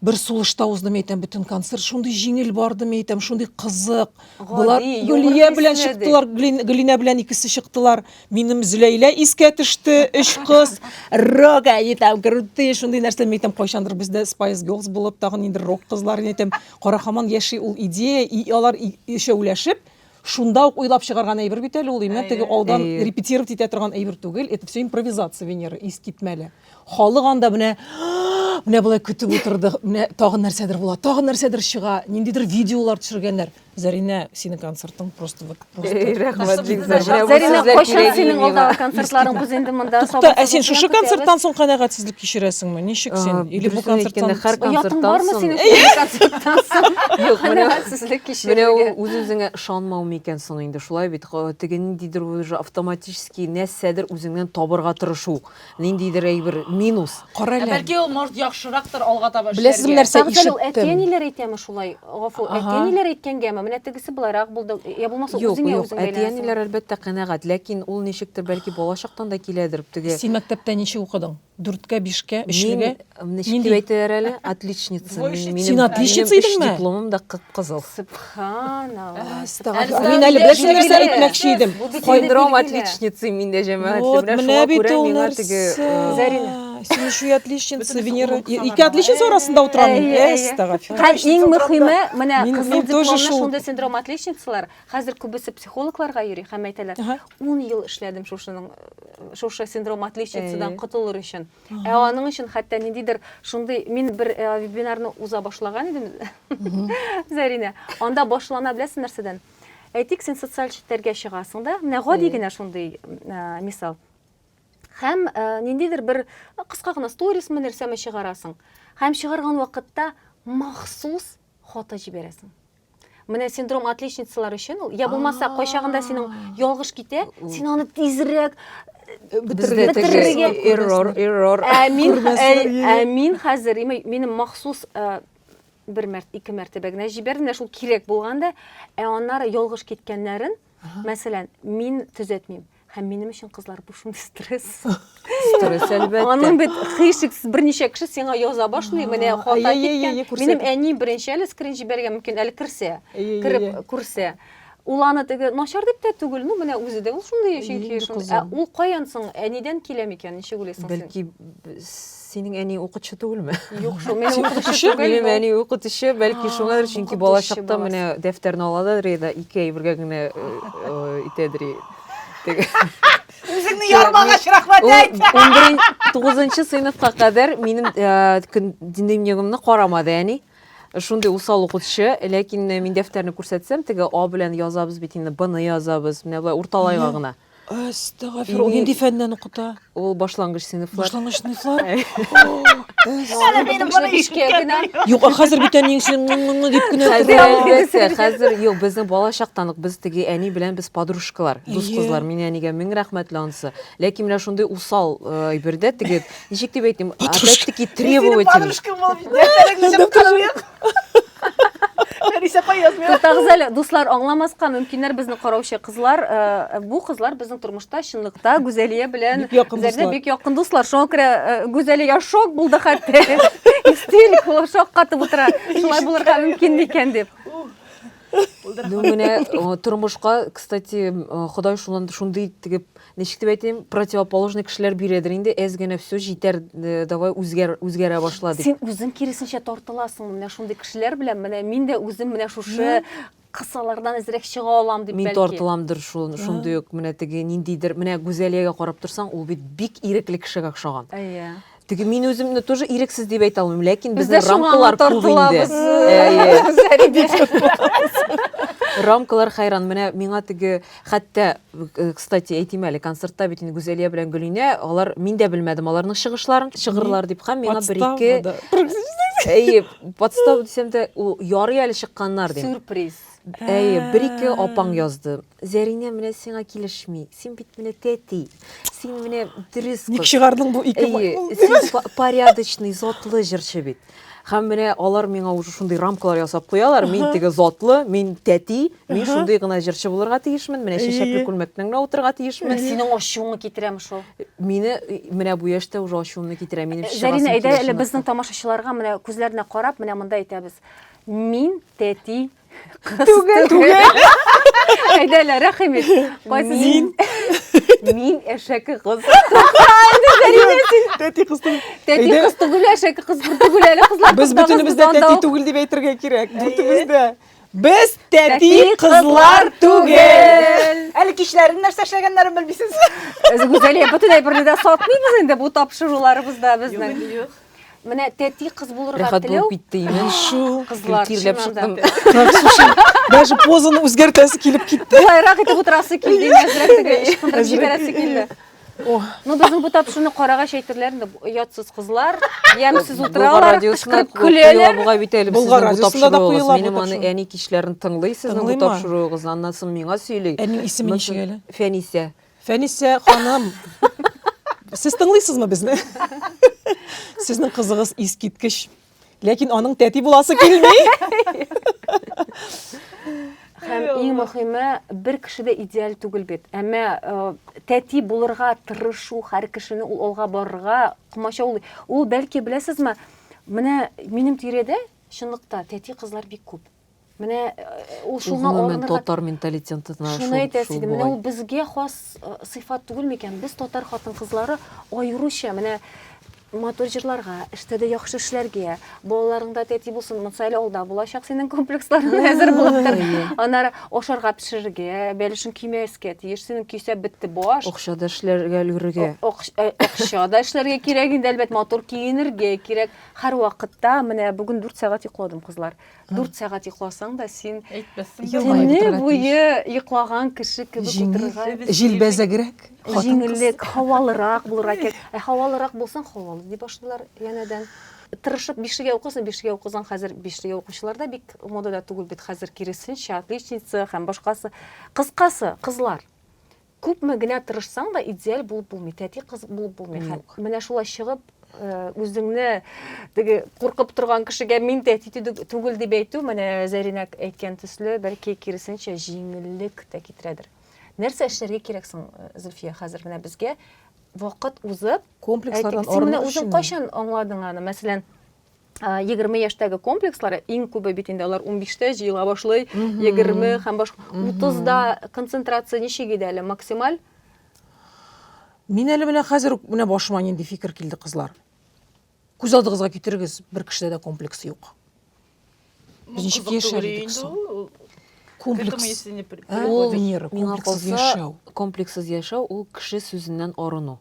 бер сулышта узды, мин әйтәм, бөтен концерт шундый җиңел барды, мин әйтәм, шундый кызык. Гади, Болар юмор Гөлия белән хисле, ди. чыктылар, Гли- Глинә белән икесе чыктылар. Минем Зөләйлә искә төште, өч кыз, рок, әйе, там, крутые, шундый нәрсә, мин әйтәм, кайчандыр бездә Spice Girls булып, тагын инде рок кызлар, мин әйтәм, кара хаман яши ул идея, и алар и- өчәүләшеп, шунда ук уйлап чыгарган әйбер бит әле ул, имә теге алдан Әйе. репетировать итә торган әйбер түгел, это все импровизация, Венера, искитмәле. Халык анда менә, менә болай көтеп утырды, менә тагын нәрсәдер була, тагын нәрсәдер чыга, ниндидер видеолар төшергәннәр. Зәринә, синең концертың просто вот просто. Рәхмәт бик зур. Зәринә, кайчан синең алдагы концертларың без инде монда сабыр. Тукта, ә син шушы концерттан соң канәгатьсезлек кичерәсеңме? Ничек син? Или бу концерттан һәр концерттан бармы синең концерттан соң? Юк, канәгатьсезлек кичерүгә. Менә үз-үзеңә ышанмау микән соң инде? Шулай бит, теге ниндидер уже автоматически нәрсәдер үзеңнән табырга тырышу. Ниндидер әйбер минус. Кара Ә әле. бәлки ул может яхшырактыр алга таба эшләргә. Беләсезме нәрсә? Тагы да ул Ишеттем. әти әниләр әйтәме шулай? Гафу, Ага. әти әниләр әйткәнгәме? Менә тегесе болайрак булды. Йә булмаса Юк, үзеңә юк, үзең әти бәйләнәсең. әниләр әлбәттә канәгать, ләкин ул ничектер бәлки балачактан да киләдер, теге. Син мәктәптә ничек укыдың? Дүрткә, бишкә, Мин өчлегә? Ничек дип әйтәләр әле? Отличница. Син отличница идеңме? Минем дипломым да кып-кызыл. Субханаллаһ. Мин әле бер нәрсә әйтмәкче идем. Синдром отличницы миндә җәмәгать. Вот менә бит ул нәрсә. Зарина. Син еще отличница, Венера. Ике отличница арасында утырам. Һәм иң мөхиме, менә кызыл дипломлы шундый синдром отличницалар. Хәзер күбесе психологларга йөри һәм әйтәләр, 10 ел эшләдем шушының, шушы синдром отличницадан котылыр өчен. Ә аның өчен хәтта ниндидер шундый мин бер э, вебинарны уза башлаган идем, Зәринә. Анда башлана беләсең нәрсәдән? Әйтик, син социаль челтәргә чыгасың да, менә гади генә шундый э, мисал. Һәм э, ниндидер бер кыска гына сторисмы нәрсәме чыгарасың. Һәм чыгарган вакытта махсус фото җибәрәсең. Менә синдром отличницалар өчен ул. Я булмаса, кайчагында синең ялгыш китә, син аны тизрәк э, бетерергә эррор, эррор. Ә мин, ә мин хәзер, минем махсус э, бер мәрт, ике мәртәбә генә җибәрдем дә шул кирәк булганда, ә аннары ялгыш киткәннәрен, мәсәлән, мин төзәтмим. һәм минем өчен кызлар бу шундый стресс стресс әлбәттә аның бит хишексез берничә кеше сиңа яза башлый менә хата киткән минем әни беренче әле скрин җибәргән мөмкин әле керсә кереп күрсә ул аны теге начар дип тә түгел ну менә үзе дә ул шундый чөнки ә ул каян соң әнидән килә микән ничек уйлыйсың син бәлки Синең әниең укытучы түгелме? Юк шул, мин укытучы түгел. Минем әни укытучы, бәлки шуңадыр, чөнки балачакта менә дәфтәрне аладыр да ике әйбергә генә итәдер. Үзеңне ярмагач рәхмәт әйт. 9нчы сыйныфка кадәр минем дневнигымны карамады әни. Шундый усал укытучы, ләкин мин дәфтәрне күрсәтсәм, теге А белән язабыз бит инде, Б-ны язабыз, менә болай урталайга гына. Әстәгафир, ул нинди фәннән укыта? Ул башлангыч сыйныфлар. Башлангыч сыйныфлар? Юк, а хәзер бит әниең сине дип кенә тора. Хәзер юк, безнең бала чактан ук без теге әни белән без подружкалар, дус кызлар. Мин әнигә мең рәхмәтле ансы. Ләкин менә шундый усал әйбердә теге, ничек дип әйтим, опять-таки требовательный. Нәрисә апа язмый. Туктагыз әле, дуслар, аңламаска мөмкиннәр безне караучы кызлар. Э, бу кызлар безнең тормышта чынлыкта Гүзәлия белән бик якын дуслар. Бик якын дуслар. Шуңа күрә э, Гүзәлия шок булды хәтта. Истерик, шок катып утыра. Шулай булырга мөмкин микән дип. Ну, менә э, тормышка, кстати, э, Ходай шунан шундый итеп, ничек дип әйтим, противоположный кешеләр бирәдер инде, әз генә все җитәр, э, давай үзгәр үзгәрә башла дип. Син үзең киресенчә тартыласың менә шундый кешеләр белән. Менә мин дә үзем менә шушы кысалардан әзрәк чыга алам дип Мин бәлки. тартыламдыр шул, шундый ук менә теге ниндидер, менә Гүзәлиягә карап торсаң, ул бит бик ирекле кешегә охшаган. Әйе. Теге мин үземне тоже ирексез дип әйтә алмыйм, ләкин безнең рамкалар күп инде. Рамкалар хайран. Менә миңа теге хәтта, э, кстати, әйтим әле, концертта бит инде Гүзәлия белән Гөлинә, алар мин дә белмәдем аларның чыгышларын, чыгырлар дип һәм миңа бер ике Әйе, подстава дисәм дә, ярый әле чыкканнар дип. Сюрприз. Әйе, бер ике апаң язды. Зәринә менә сиңа килешми. Син бит менә тәти. Син менә дөрес кыз. Ник чыгардың бу ике Әйе, порядочный, затлы җырчы бит. Һәм менә алар миңа уже шундый рамкалар ясап куялар. Мин теге затлы, мин тәти, мин шундый гына җырчы булырга тиешмен, менә чәчәкле күлмәктә генә утырырга тиешмен. Синең ачуыңны китерәме шул? Мине менә бу яшьтә уже ачуымны китерә. Минем чыгасым килә. Зәринә, әйдә әле безнең тамашачыларга менә күзләренә карап, менә монда әйтәбез. Мин тәти Түгел. Түгел. Әйдә әле, рәхим ит. Кайсы Мин. Мин әшәке кыз. Тәти кыз түгел. Тәти Әйдә. кыз түгел, әшәке кыз бер түгел әле кызлар. Без кызлар, бөтенебез дә кызлар тәти да- түгел дип әйтергә кирәк. Бөтенебез дә. Без тәти кызлар түгел. Әле кичләрен нәрсә эшләгәннәрен белмисез. Гүзәлия, бөтенләй берне дә сатмыйбыз инде бу тапшыруларыбызда безнең. Юк, юк. Менә тәти кыз булырга Рәхәт теләү. булып китте имән. Шу, Кызлар, киркирләп чыннан да. чыктым. Так, слушай, даже позаны үзгәртәсе килеп китте. Болайрак итеп утырасы килде, имә әзрәк теге ычкындырып Әзрәк, җибәрәсе килде. О, Ну, безнең бу тапшыны карагач әйтерләр инде, бу оятсыз кызлар, ямьсез Болгар утыралар, радиосына кычкырып ку- куела көләләр. бугай бит әле Болгар сезнең бу радиосында да тапшыруыгыз. куела бу Минем аны тапшыру. әни кичләрен тыңлый сезнең бу Тыңлыймы? тапшыруыгызны. Аннан соң миңа сөйли. Әнинең исеме Моннан ничек соң әле? Фәнисә. Фәнисә ханым, сез тыңлыйсызмы безне? Сезнең кызыгыз искиткеч. Ләкин аның тәти буласы килми. Һәм иң мөхиме, бер кеше дә идеаль түгел бит. Әмма э, тәти булырга тырышу һәр кешене ул алга барырга комачаулый. Ул бәлки беләсезме, менә минем тирәдә чынлыкта тәти кызлар бик күп. Менә ул шуңа алынырга... татар менталитетына шул Шуны әйтәсе идем. Менә ул безгә хас сыйфат түгел микән? Без татар хатын-кызлары аеруча менә матур җырларга, эштә дә яхшы эшләргә, балаларыңда тәти булсын, монсы әле алда булачак синең комплексларың әзер булып тор. Аннары ашарга пешерергә, бәлешең көймәскә тиеш, синең көйсә бетте баш. Акча да эшләргә өлгерергә. Акча да эшләргә кирәк инде, әлбәт, матур киенергә кирәк. Һәрвакытта менә бүген 4 сәгать йокладым, кызлар. 4 сәгать йокласаң да син көне буе йоклаган кеше кебек утырырга җилбәзәгрәк җиңеллек һавалырак булырга кирәк ә һавалырак булсаң һавалы ди башлыйлар янәдән тырышып бишегә укысын бишегә укысан хәзер бишегә укучылар да бик модада түгел бит хәзер киресенчә отличница һәм башкасы кыскасы кызлар Күпме генә тырышсаң да идеаль булып булмый, тәти кыз булып булмый. Хәм менә шулай чыгып, үзеңне теге куркып торган кешегә мин тәти түгел дип әйтү, менә Зәринә әйткән төсле, бәлки киресенчә җиңеллек тә китерәдер. Нәрсә эшләргә кирәк соң, Зөлфия, хәзер менә безгә вакыт узып, комплекслардан арыну өчен. Үзең кайчан аңладың аны? Мәсәлән, егерме яшьтәге комплекслары иң күбе бит инде алар унбиштә җыела башлый егерме һәм башка утызда концентрация ничек иде әле максималь мин әле менә хәзер үк менә башыма нинди фикер килде кызлар күз алдыгызга китерегез бер кешедә дә комплекс юк Ничек яшәр идек соң? Комплекс. Ул миңа калса, комплексыз яшәү ул кеше сүзеннән арыну.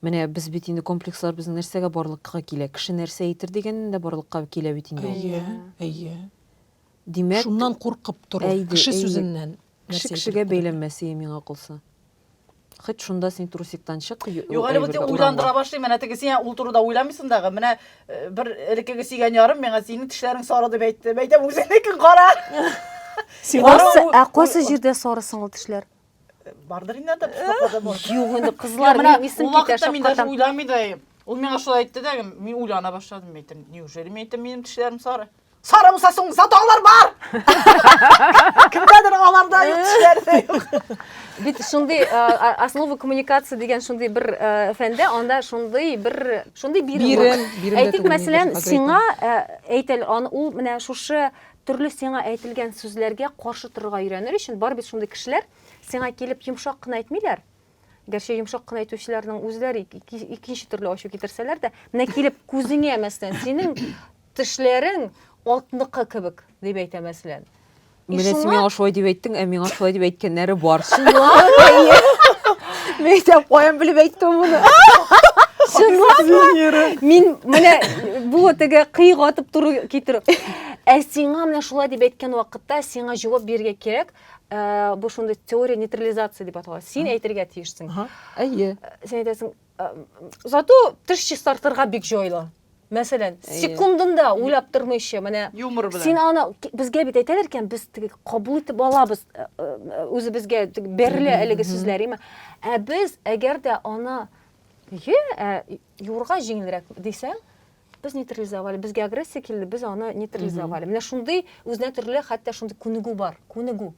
Менә без бит инде комплекслар безнең нәрсәгә барлыкка килә? Кеше нәрсә әйтер дигәннән дә барлыкка килә бит инде ул. Әйе, әйе. Димәк, шуннан куркып тору, кеше сүзеннән. Кеше кешегә бәйләнмәсие миңа калса. Хоть шунда син трусиктан чык. Юк, әле вот уйландыра башлыйм, менә теге син ул турыда уйламыйсың дагы. Менә э, бер элеккеге сөйгән ярым миңа синең тешләрең сары дип әйтте. Әйтәм, үзеңнекен кара. Сиңарсы, ә кайсы җирдә сары соң ул тешләр? Бардыр инде анда пешмәкәдә бар. Юк, инде кызлар менә исем китә шаккатам. Мин даже уйламый да. Ул миңа шулай әйтте дә, мин уйлана башладым, әйтәм, неужели мин әйтәм, минем тешләрем сары? Сары булса соң затоглар бар. Кемдәдер аларда юк, кешеләрдә юк. Бит шундый основа коммуникации дигән шундый бер фәндә, анда шундый бер шундый бирем. Бирем, Әйтик, мәсәлән, сиңа әйтел, ул менә шушы төрле сиңа әйтелгән сүзләргә каршы торырга өйрәнер өчен бар бит шундый кешеләр, сиңа килеп йомшак кына әйтмиләр, Гәрчә йомшак кына әйтүчеләрнең үзләре икенче төрле ачу китерсәләр дә, менә килеп күзеңә мәсәлән, синең тешләрең атныкы кебек дип әйтә мәсәлән. Менә син миңа шулай дип әйттең, ә миңа шулай дип әйткәннәре бар. Мин әйтәм, каян белеп әйттем моны? Чынлап Мин менә бу теге кыйг атып тору китерү. Ә сиңа менә шулай дип әйткән вакытта сиңа җавап бирергә кирәк. ә, бу шундый теория нейтрализации дип атала син әйтергә тиешсең әйе син әйтәсең зато теш чистартырга бик җайлы мәсәлән секундында уйлап тормыйча менә юмор белән син аны безгә бит әйтәләр икән без теге кабул итеп алабыз үзебезгә бәрелә әлеге сүзләр име ә без әгәр дә аны юрга җиңелрәк дисәң без нейтрализовали безгә агрессия килде без аны нейтрализовали менә шундый үзенә төрле хәтта шундый күнегү бар күнегү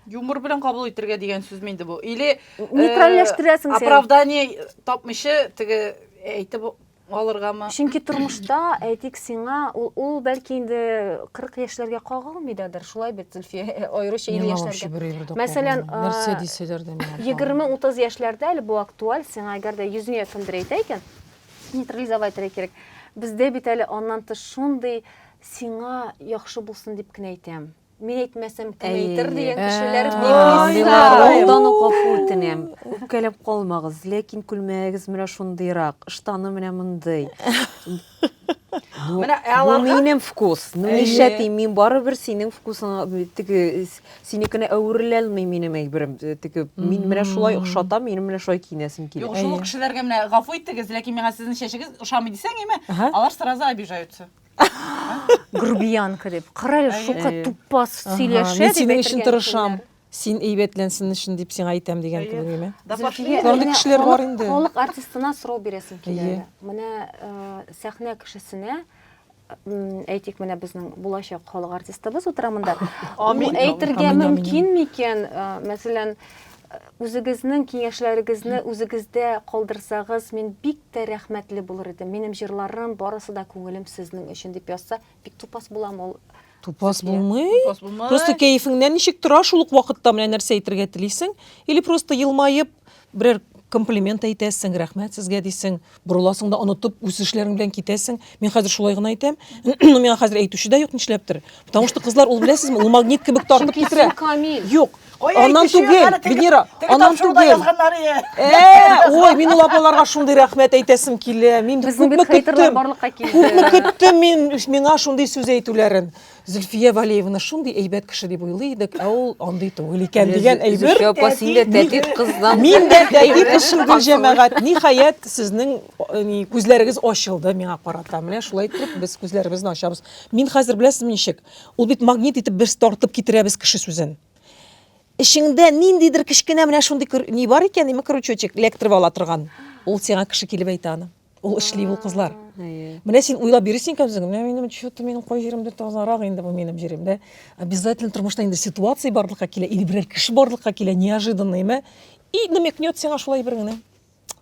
юмор белән кабул итергә дигән сүзме инде бу или э, нейтральләштерәсең сен оправдание тапмыйча теге әйтеп алыргамы чөнки тормышта әйтик сиңа ул, ул бәлки инде 40 яшьләргә кагылмый дадыр шулай бит зөлфия аеруча илле яшьләргә мәсәлән нәрсә дисәләр дә егерме утыз яшьләрдә әле бу актуаль сиңа әгәр дә йөзеңә кемдер әйтә икән Нейтрализовать итәргә кирәк. Бездә бит әле аннан тыш шундый сиңа яхшы булсын дип кенә әйтәм. Мин әйтмәсәм кем әйтер дигән кешеләр Алдан ук гафу үтенәм. Үпкәләп калмагыз, ләкин күлмәгегез менә шундыйрак, ыштаны менә мондый. Менә ә аларга минем вкус. Ну нишләтим, мин барыбер синең вкусыңа теге Синекенә әвереләлми минем әйберем тегеп. Мин менә шулай охшатам, минем менә шулай киенәсем килә. Юк, шул кешеләргә менә гафу итегез, ләкин миңа сезнең чәчегез ошамый дисәң, яме, алар сразу обижаются. Грубиянка дип. Кара әле, шука тупас сөйләшә дип әйтергә. Мин синең өчен тырышам. Син әйбәтләнсен өчен дип сиңа әйтәм дигән кебек яме. Мондый кешеләр бар инде. Халык артистына сорау бирәсем килә әле. Менә сәхнә кешесенә әйтик менә безнең булачак халык артистыбыз утыра монда амин әйтергә мөмкин микән мәсәлән үзегезнең киңәшләрегезне үзегездә калдырсагыз мин бик тә рәхмәтле булыр идем минем җырларым барысы да күңелем сезнең өчен дип язса бик тупас булам ул Тупас булмый. Тупас булмый. Просто кәефеңнән ничек тора шул ук вакытта менә нәрсә әйтергә телисең? Или просто елмаеп берәр комплимент әйтәсең, рәхмәт сезгә дисең, борыласың да онытып үз эшләрең белән китәсең. Мин хәзер шулай гына әйтәм. Ну миңа хәзер әйтүче дә юк нишләптер. Потому что кызлар ул беләсезме, ул магнит кебек тартып Чөнки китерә. син камил. Юк, Аннан түгел, Венера, аннан түгел. Э, ой, мин ул апаларга шундый рәхмәт әйтәсем килә. Мин күпме көттем. Күпме көттем мин миңа шундый сүз әйтүләрен. Зөлфия Валеевна шундый әйбәт кеше дип уйлый идек, ә ул андый түгел икән дигән әйбер. Зөлфия апа, син дә тәтит кыздан. Мин дә тәтит кызым гел җәмәгать. Ниһаять, сезнең күзләрегез ачылды миңа карата. Менә шулай итеп без күзләребезне ачабыз. Мин хәзер беләсезме ничек? Ул бит магнит итеп без тартып китерәбез кеше сүзен. Эчеңдә ниндидер кечкенә менә шундый кер- ни бар икән, ниме крючочек, электро ала торган. Ул сиңа кеше килеп әйтә аны. Ул эшли ул кызлар. Әйе. Менә син уйлап йөрисең икән үзең, менә минем чё-то минем кай җиремдә тазарак инде бу минем җирем, дә? Обязательно тормышта инде ситуация барлыкка килә или берәр кеше барлыкка килә неожиданно, име? И намекнет сиңа шулай бер генә.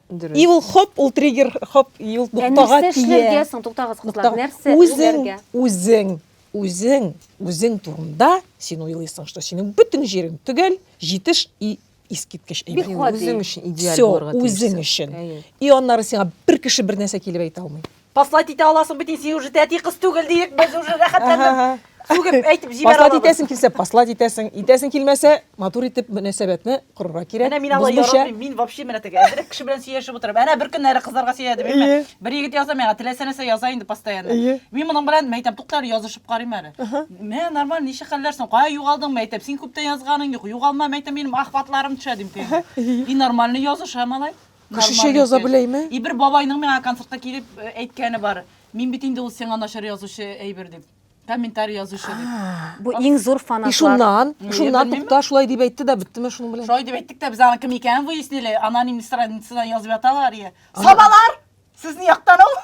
Дөрес. И ул хоп, ул триггер хоп, и ул ноктага тия. Нәрсә эшләргә соң, туктагыз кызлар, нәрсә эшләргә? Үзең, үзең, үзең турында син уйлыйсың, что синең бөтен җирең төгәл, җитеш и искиткеч әйбер. Үзең өчен идеаль булырга тиеш. Все, үзең өчен. И аннары сиңа бер кеше бер нәрсә килеп әйтә алмый. Паслать итә аласың бит, син уже тәти кыз түгел диек, без уже рәхәтләнеп сүгеп әйтеп җибәрә Паслать алабыз. итәсең килсә, паслать итәсең. Итәсең килмәсә, матур итеп мөнәсәбәтне корырга кирәк. Менә мин алай Бозмыйча. яратмыйм, мин вообще менә теге әзрәк кеше белән сөйләшеп утырам. Әнә бер көннәре кызларга сөйләдем, Әйе. әйме? Бер егет яза миңа, теләсә нәрсә яза инде постоянно. Әйе. Мин моның белән мәйтәм, тукта әле язышып карыйм әле. Мә, нормаль, ничә хәлләр соң? Кая югалдың мәйтәм? Син күптән язганың юк. Югалма мәйтәм, минем ахватларым төшә дим тегегә. И нормально языша малай. Кешечә яза беләйме? И бер бабайның миңа концертка килеп э, әйткәне бар. Мин бит инде ул сиңа начар язучы әйбер дип. Комментарий язучы дип. Бу иң зур фанатлар. И шуннан, шуннан тукта шулай дип әйтте дә беттеме шуның белән? Шулай дип әйттек тә без аны кем икәнен выяснили. Аноним страницада язып яталар ие. Сабалар! Сез ни яктан ул?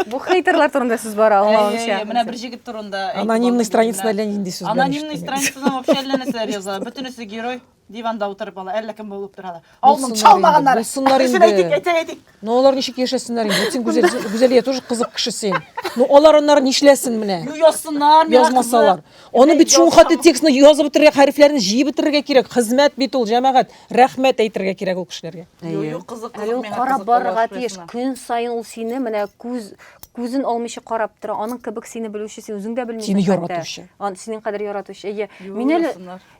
Бу хейтерлар турында сүз бара, аңлавымча. Менә бер җегет турында. Анонимный страницада әллә нинди сүз. Анонимный страницада вообще әллә нәрсәләр яза. Бөтенесе герой. Диванда утырып ала, әллә кем булып торалар. Алның чалмаганнар. Булсыннар инде. Әйтик, әйтик, әйтик. Ну алар ничек яшәсеннәр инде? Син гүзәл, гүзәлия тоже кызык кеше син. Ну алар аннары нишләсен менә? Ну язсыннар, язмасалар. Аны бит шул хатты текстны язып бетерергә, хәрефләрен җыеп бетерергә кирәк. Хезмәт бит ул, җәмәгать. Рәхмәт әйтергә кирәк ул кешеләргә. Юк, кызык, кызык. Ул карап барырга тиеш. Көн саен ул сине менә күз күзен алмыйча карап тора. Аның кебек сине белүче, син үзең дә белмисең. Сине яратучы. Ан синең кадәр яратучы. Әйе. Мин әле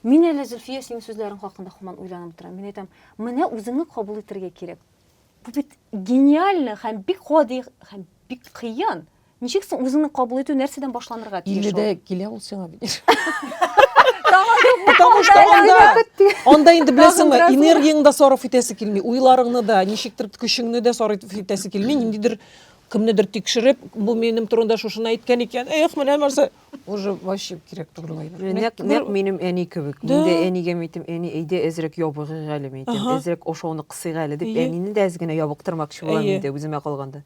Мин әле, Зөлфия, синең сүзләрең хакында һаман уйланып торам. Мин әйтәм, менә үзеңне кабул итәргә кирәк. Бу бит гениально һәм бик гади һәм бик кыен. Ничек соң үзеңне кабул итү нәрсәдән башланырга тиеш? ул? Илледә килә ул сиңа бит. Потому что анда, анда инде беләсеңме, Тагын бераз энергияңне дә сарыф итәсе килми, уйларыңны да, ничектер көчеңне дә сарыф итәсе килми, ниндидер кемнедер тикшереп, бу минем турында шушыны әйткән икән, эх, менә нәрсә. уже вообще кирәк түгел лайнер. Нәк, нәк минем әни кебек. Да. Инде әнигә әйтем, әни, әйдә әзрәк ябыгыйк әле, мин әйтәм. Ага. Әзрәк ашауны кысыйк әле дип, Әйе. әнине дә әз генә ябыктырмакчы булам Әйе. инде үземә калганда.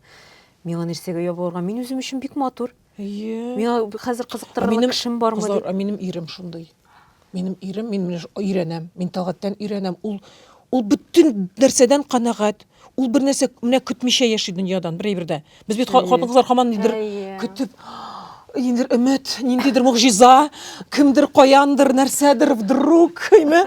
Миңа нәрсәгә ябыгырга? Мин үзем өчен бик матур. Әйе. Миңа хәзер кызыктырырлык кешем бармы кызлар, дип. А минем ирем шундый. Минем ирем, мин менә өйрәнәм, мин Талгаттан өйрәнәм. Ул ул бөтен нәрсәдән канәгать. Ул бер нәрсә менә көтмичә яши дөньядан бер әйбердә. Без бит хатын-кызлар хаман нидер көтеп Индер өмет, ниндидер могҗиза, кемдер каяндыр, нәрсәдер вдруг, әйме?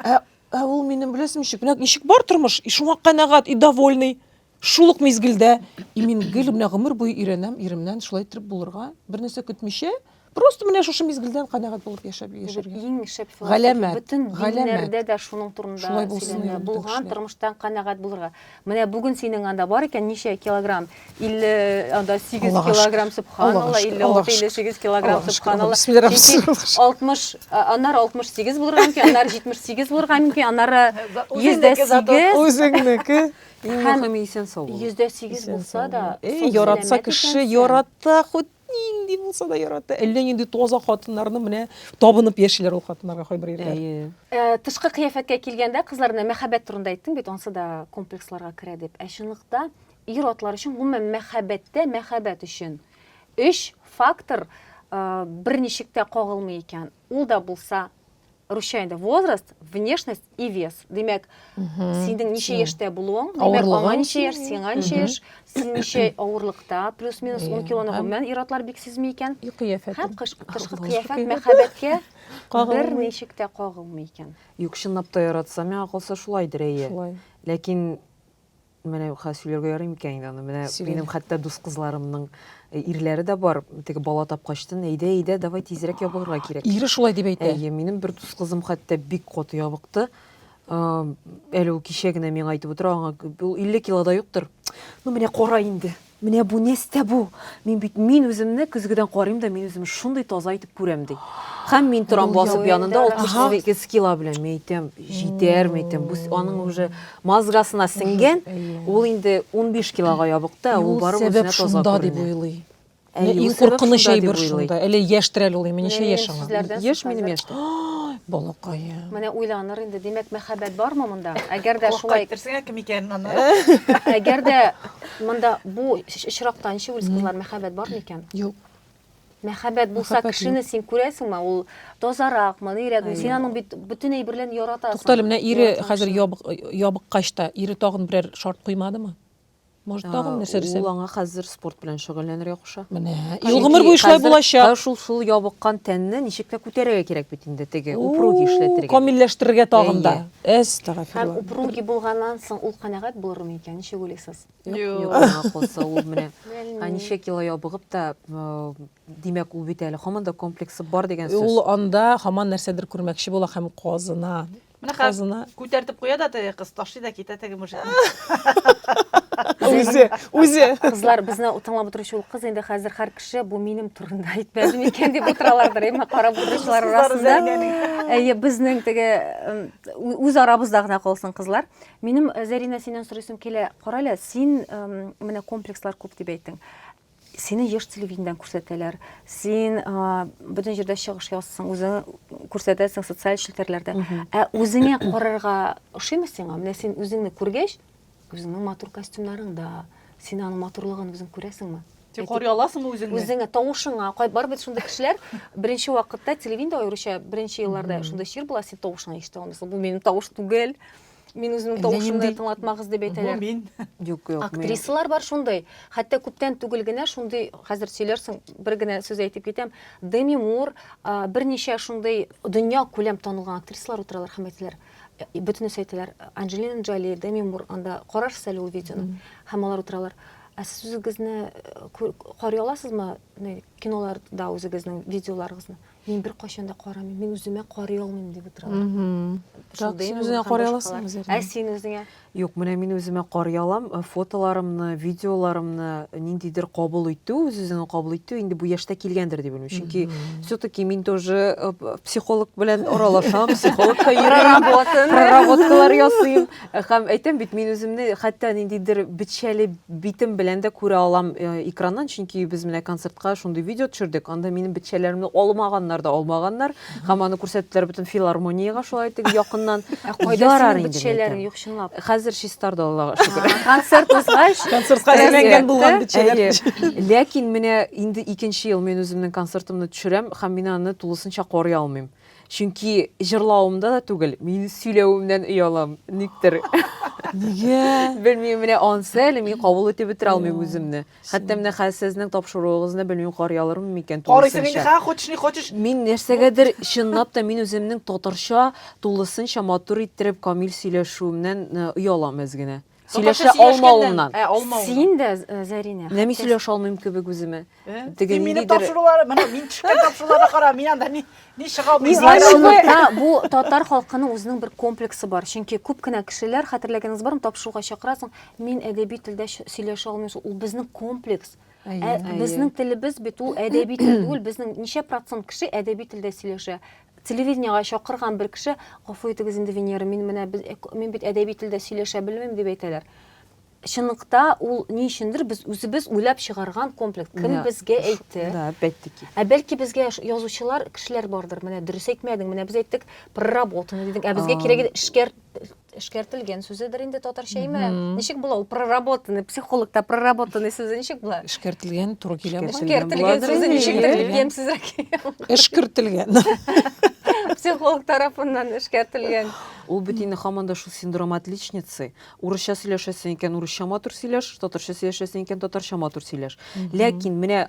Ә, ә ул минем беләсем ничек? Менә ничек бар тормыш, и шуңа канәгать, и довольный. Шул ук мизгелдә и мин гел менә гомер буе өйрәнәм иремнән шулай итеп булырга, бернәрсә көтмичә, просто менә шушы мизгелдән канәгать булып яшәп яшәргә. Иң шәп галәмәт. Бөтен диннәрдә дә шуның турында сөйләнә. Булган тормыштан канәгать булырга. Менә бүген синең анда бар икән ничә килограмм? 50 анда 8 килограмм субханалла, 56 58 килограмм субханалла. 60 аннары 68 булырга мөмкин, аннары 78 булырга мөмкин, аннары 108. Үзеңнеке. Иң Һәм мөхиме исән сау булу. Йөздә сигез булса да, Эй, яратса кеше, ярата, хут нинди булса да ярата. Әллә нинди тоза хатыннарны менә табынып яшиләр ул хатыннарга кайбер ирләр. Әйе. Э, тышкы кыяфәткә килгәндә, кызлар менә мәхәббәт турында әйттең бит, ансы да комплексларга керә дип. Ә чынлыкта ир атлар өчен гомумән мәхәббәттә мәхәббәт өчен өч фактор э, берничек тә кагылмый икән. Ул да булса русча инде возраст, внешность и вес. Димәк, синең ничә яшьтә булуың, димәк, аңа ничә яшь, сиңа ничә яшь, син ничә авырлыкта, плюс-минус 10 килоны гомумән ир-атлар бик сизми икән. И кыяфәт. Һәм кышкы кыяфәт мәхәббәткә бер ничек тә кагылмый икән. Юк, чынлап та яратса, миңа калса шулайдыр, әйе. Шулай. Ләкин Менә хәзер сөйләргә ярый микән инде аны? Менә Сөйлә. минем хәтта дус кызларымның э, ирләре дә бар. Теге бала тапкачтын, әйдә, әйдә, давай тизрәк ябыгырга кирәк. Ире шулай дип әйтә. Әйе, минем бер дус кызым хәтта бик каты ябыкты. Э, Әле ул кичә генә миңа әйтеп утыра, аңа ул 50 килода юктыр. Ну менә кара инде. Менә бу нәстә бу! Мин бит мин үземне көзгедән карыйм да, мин үземне шундый таза итеп күрәм, ди. Хәм мин торам басып янында 68 кило белән, мин әйтәм, җитәрме әйтәм, бу аның уже мозгасына сеңгән, ул инде 15 килога ябык та, ул барып үзенә таза күренә. Шунда дип уйлый. Иң куркыныч әйбер шунда. Әле яшьтер әле ул, менә ничә яшь аңа? Яшь минем яшьтә. Балакаем. Менә уйланыр инде, димәк, мәхәббәт бармы монда? Әгәр дә шулай... Кайттырсаң, кем икәнен аны. Әгәр дә Монда бу очракта ничек уйлыйсыз, кызлар, мәхәббәт бар микән? Юк. Мәхәббәт булса, кешене син күрәсеңме, ул тазаракмы, нирәкме? Син аның бит бөтен әйбер белән яратасың. Туктале, менә ире хәзер ябыккач та, ире тагын берәр шарт куймадымы? Может, тагын нәрсә дисәң? Ул аңа хәзер спорт белән шөгыльләнергә Менә. Ел гомер буе шулай булачак. Шул сул ябыккан тәнне ничек тә күтәрергә кирәк бит инде теге упруги эшләтергә. Камилләштерергә тагын да. Әстәгфирулла. Һәм упруги булганнан соң ул канәгать булырмы икән? Ничек уйлыйсыз? Юк, калса ул менә. Ә ничек кило ябыгып та, димәк, ул бит әле һаман да комплексы бар дигән сүз. Ул анда һаман нәрсәдер күрмәкче була һәм казына. Менә хәзер Казына. күтәртеп куя да теге кыз, ташлый да китә теге мужикны. Үзе, үзе. Кызлар безне тыңлап утыручы ул кыз инде хәзер һәр кеше бу минем турында әйтмәде микән дип утыралардыр, әмма карап утыручылар Кызлар арасында. Зәринәнең. Әйе, безнең теге м, ү- үз арабызда гына калсын кызлар. Минем э, Зәринә синнән сорыйсым килә. Кара әле, син м, менә комплекслар күп дип әйттең. Сине еш телевидениедән күрсәтәләр. Син бөтен җирдә чыгыш ясыйсың, үзең күрсәтәсең социаль челтәрләрдә. Ә үзеңә карарга ошыймы сиңа? Менә син үзеңне күргәч, үзеңнең матур костюмнарың да, син аның матурлыгын үзең күрәсеңме? Тик карый аласыңмы үзеңне? Үзеңә, тавышыңа. Бар бит шундый кешеләр, беренче вакытта телевидение аеруча беренче елларда шундый чир була, син тавышыңа ишетә алмыйсың. Бу минем тавыш түгел. Мин үземнең тавышымны тыңлатмагыз дип әйтәләр. Бу мин. Юк, юк. Актрисалар бар шундый. Хәтта күптән түгел генә шундый, хәзер сөйләрсең, бер генә сүз әйтеп китәм. Деми Мур, берничә шундый дөнья күләм танылган актрисалар утыралар һәм әйтәләр, бөтенесе әйтәләр, Анджелина Джоли, Деми Мур, анда карарсыз әле ул видеоны. Һәм алар утыралар. Ә сез үзегезне карый аласызмы киноларда үзегезнең видеоларыгызны? Мин бер кайчан да карамыйм, мин үземә карый алмыйм дип утыралар. Так, син үзеңә карый аласың үзеңә. Ә син үзеңә? Юк, менә мин үземә карый алам, э, фотоларымны, видеоларымны ниндидер кабул итү, үз-үзеңне кабул итү инде бу яшьтә килгәндер дип уйлыйм. Чөнки все-таки мин тоже э, психолог белән аралашам, психологка йөрим, проработкалар ясыйм. Хәм әйтәм бит, мин үземне хәтта ниндидер бетчәле битем белән дә күрә алам э, экраннан, чөнки без менә концертка шундый видео төшердек. Анда минем бетчәләремне алмаганнар да алмаганнар. Һәм аны күрсәттеләр бөтен филармониягә шулай итеп якыннан. Ә кайда синең бетчәләрең юк чынлап? Хәзер чистарды Аллага шөкер. Концерт узгач, концертка әйләнгән булган бетчәләр. Ләкин менә инде икенче ел мин үземнең концертымны төшерәм һәм мин аны тулысынча карый алмыйм. Чөнки җырлавымда да түгел, мин сөйләвемнән оялам, никтер. Нигә? Белмим, менә ансы әле мин кабул итеп бетерә алмыйм үземне. Хәтта менә хәзер сезнең тапшыруыгызны белмим карый алырмын микән тулысынча. Карыйсың инде, хочешь, не хочешь. Мин нәрсәгәдер чынлап та мин үземнең татарча тулысынча матур иттереп камил сөйләшүемнән оялам әз генә. Сөйләшә алмавымнан. Ә, алмавымнан. Син дә, э, Зәринә. Менә мин сөйләшә алмыйм кебек үземә. Э? Теге мине тапшырулар, менә мин төшкән тапшыруларга кара, мин анда ни ни чыга алмыйм. Бу татар халкының үзенең бер комплексы бар. Чөнки күп кенә кешеләр, хәтерләгәнегез бармы, тапшыруга чакырасың, мин әдәби телдә сөйләшә алмыйм. Ул безнең комплекс. Ә безнең телебез бит ул әдәби тел түгел. Безнең ничә процент кеше әдәби телдә сөйләшә? Телевидениегә чакырган бер кеше, Гафу итегез инде, Венера, мин менә без, мин бит әдәби телдә сөйләшә белмим, дип әйтәләр. Чынлыкта ул ни өчендер без үзебез уйлап чыгарган комплекс. Кем Да, безгә ш- әйтте? Да, опять-таки. Ә бәлки безгә ш- язучылар, кешеләр бардыр, менә дөрес әйтмәдең, менә без әйттек проработанный дидең, ә безгә А. кирәге эшкәр эшкәртелгән сүзедер инде татарча име ничек була ул проработанный психологта проработанный сүзе ничек була эшкәртелгән туры килә эшкәртелгән сүзе ничектер ямьсезрәк эшкертелгән психолог тарафыннан эшкәртелгән ул бит инде һаман да шул синдром отличницы урысча сөйләшәсең икән урысча матур сөйләш татарча сөйләшәсең икән татарча матур сөйләш ләкин менә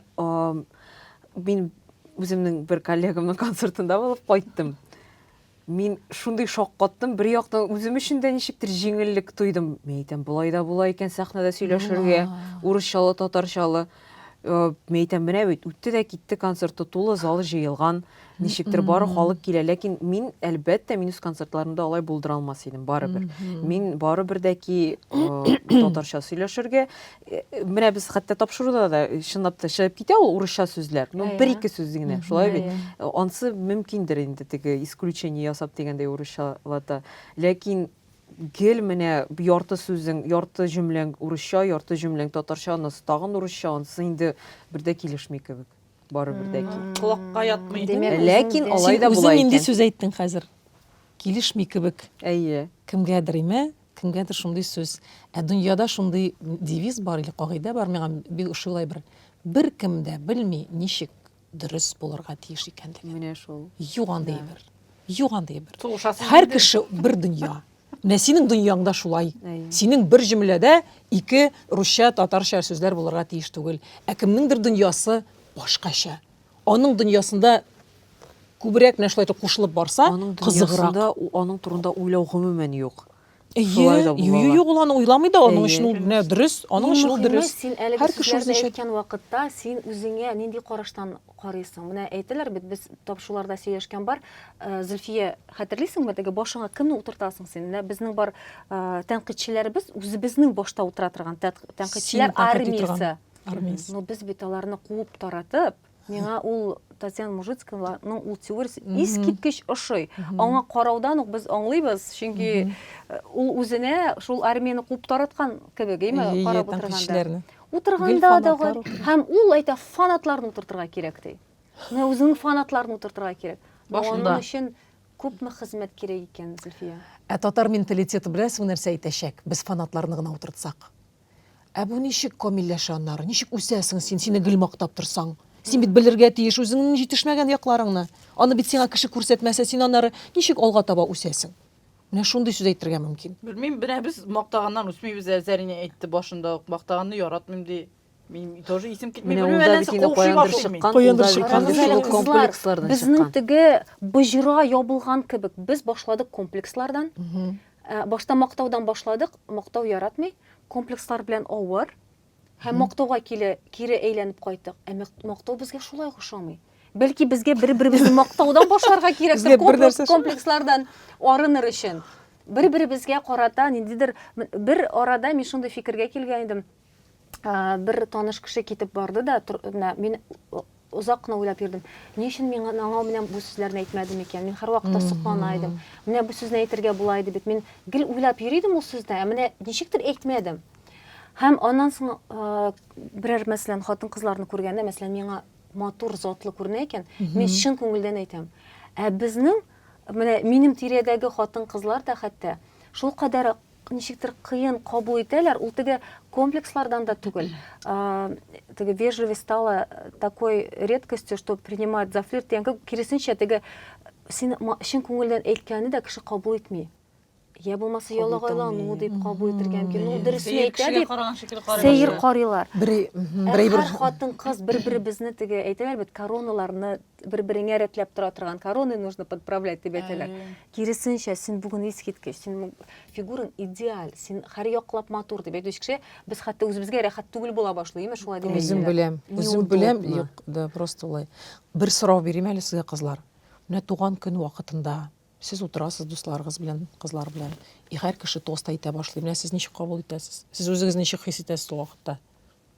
мин үземнең бер коллегамның концертында булып кайттым Мин шундый шаккаттым, бер яктан үзем өчен дә ничектер җиңеллек тойдым. Мин әйтәм, болай да була икән сәхнәдә сөйләшергә, урысчалы, татарчалы. Мин әйтәм, менә бит үтте дә китте концерты, тулы зал җыелган, ничектер бары халык килә. Ләкин мин, әлбәттә, мин үз концертларымда алай булдыра алмас идем, барыбер. Мин барыбер дә ки татарча сөйләшергә, менә без хәтта тапшыруда да чынлап та чыгып китә ул урысча сүзләр ну бер ике сүз генә шулай бит ансы мөмкиндер инде теге исключение ясап дигәндәй урысчалата ләкин гел менә ярты сүзең ярты җөмләң урысча ярты җөмләң татарча анысы тагын урысча анысы инде бер дә килешми кебек барыбер дә килешми колакка ятмый ләкин алай да болай икән үзең инде сүз әйттең хәзер Килешми кебек. Әйе. Кемгәдер имә, кемгәдер шундый сүз. Ә дөньяда шундый девиз бар или кагыйдә бар, миңа бик ошый улай бер, Беркем дә белми, ничек дөрес булырга тиеш икәнлеген. Менә шул. Юк андый әйбер. Юк андый әйбер. Сугышасың Һәр инде. кеше бер дөнья. Менә синең дөньяң да шулай. Әйе. Синең бер җөмләдә ике русча, татарча сүзләр булырга тиеш түгел. Ә кемнеңдер дөньясы башкача. Аның дөньясында күбрәк менә шулай итеп кушылып барса, аның кызыграк. Аның турында уйлау гомумән юк. Шулай да була. Юк, ул аны уйламый да, аның өчен ул менә дөрес, аның өчен ул дөрес. Син әлеге сүзләрне әйткән вакытта, син үзеңә нинди караштан карыйсың? Менә әйтәләр бит, без тапшуларда сөйләшкән бар. Зөлфия, хәтерлисеңме, теге башыңа кемне утыртасың син? Менә безнең бар тәнкыйтьчеләребез, үзебезнең башта утыра торган тәнкыйтьчеләр армиясе. Армиясе. Но без бит аларны куып таратып, миңа ул Татьяна Мужицкованың ул теориясе искиткеч ошый. Аңа караудан ук без аңлыйбыз, чөнки э, ул үзенә шул армияне куып тараткан кебек, әйме, Ие, ие, карап утырганда. тәнкыйтьчеләрне. Утырганда Гел да фанатлар гай- утырган. һәм ул әйтә, фанатларны утыртырга кирәк ди. Менә үзенең фанатларын утыртырга кирәк. Но Башында. Аның өчен күпме хезмәт кирәк икән, Зөлфия? Ә татар менталитеты беләсең нәрсә әйтәчәк? Без фанатларны гына утыртсак. Ә бу ничек камилләшә аннары? Ничек үсәсең син, сине гел мактап торсаң? Син бит белергә тиеш үзеңнең җитешмәгән якларыңны. Аны бит сиңа кеше күрсәтмәсә, син аннары ничек алга таба үсәсең? Менә шундый сүз әйтергә мөмкин. Белмим, менә без мактаганнан үсмибез әле, Зәринә әйтте башында ук, мактаганны яратмыйм ди. Мин тоже исем китми, Менә белмим, ул да бит әллә инде укшый каяндыр башлыйм мин. чыккан, ул да бит инде шул ук комплекслардан Безнең чыккан. теге боҗра ябылган кебек, без башладык комплекслардан, Ә, башта мактаудан башладык, мактау яратмый, комплекслар белән авыр. Һәм мактауга киле, кире әйләнеп кайттык. Ә мәк- мактау безгә шулай ук ошамый. Бәлки безгә бер-беребезне мактаудан башларга Безгә кирәктер, бер комплекс, нәрсә шул. комплекслардан арыныр өчен. Бер-беребезгә карата ниндидер м- бер арада мин шундый фикергә килгән идем. бер таныш кеше китеп барды да, мин озак кына уйлап йөрдем. Ни өчен мин аңа менә бу сүзләрне әйтмәдем икән? Мин һәрвакыт соклана идем. Менә бу сүзне әйтергә була иде бит. Мин гел уйлап йөри идем ул сүзне, ә менә ничектер әйтмәдем. Һәм аннан соң берәр мәсәлән хатын-кызларны күргәндә, мәсәлән, миңа матур, затлы күренә икән, мин чын күңелдән әйтәм. Ә безнең менә минем тирәдәге хатын-кызлар да хәтта шул кадәр ничектер кыен кабул итәләр, ул теге комплекслардан да түгел. Теге вежливость стала такой редкостью, что принимают за флирт дигән киресенчә теге син чын күңелдән әйткәнне дә кеше кабул итми. Я булмаса ялагайлану дип кабул итәргә мөмкин. Ну дөресен әйтә дип. Сәер карыйлар. Бер бер хатын кыз бер-беребезне теге әйтәләр бит короналарны бер-береңә рәтләп тора торган короны нужно подправлять дип әйтәләр. Киресенчә, син бүген искиткеч, син фигураң идеаль, син һәр яклап матур дип әйтүче кеше, без хәтта үзебезгә рәхәт түгел була башлый, имеш шулай дип. Үзем беләм, үзем беләм, юк, да просто улай. Бер сорау бирим әле сезгә кызлар. Менә туган көн вакытында сез утырасыз дусларыгыз белән, кызлар белән, и һәр кеше тост әйтә башлый. Менә сез ничек кабул итәсез? Сез үзегез ничек хис итәсез ул вакытта?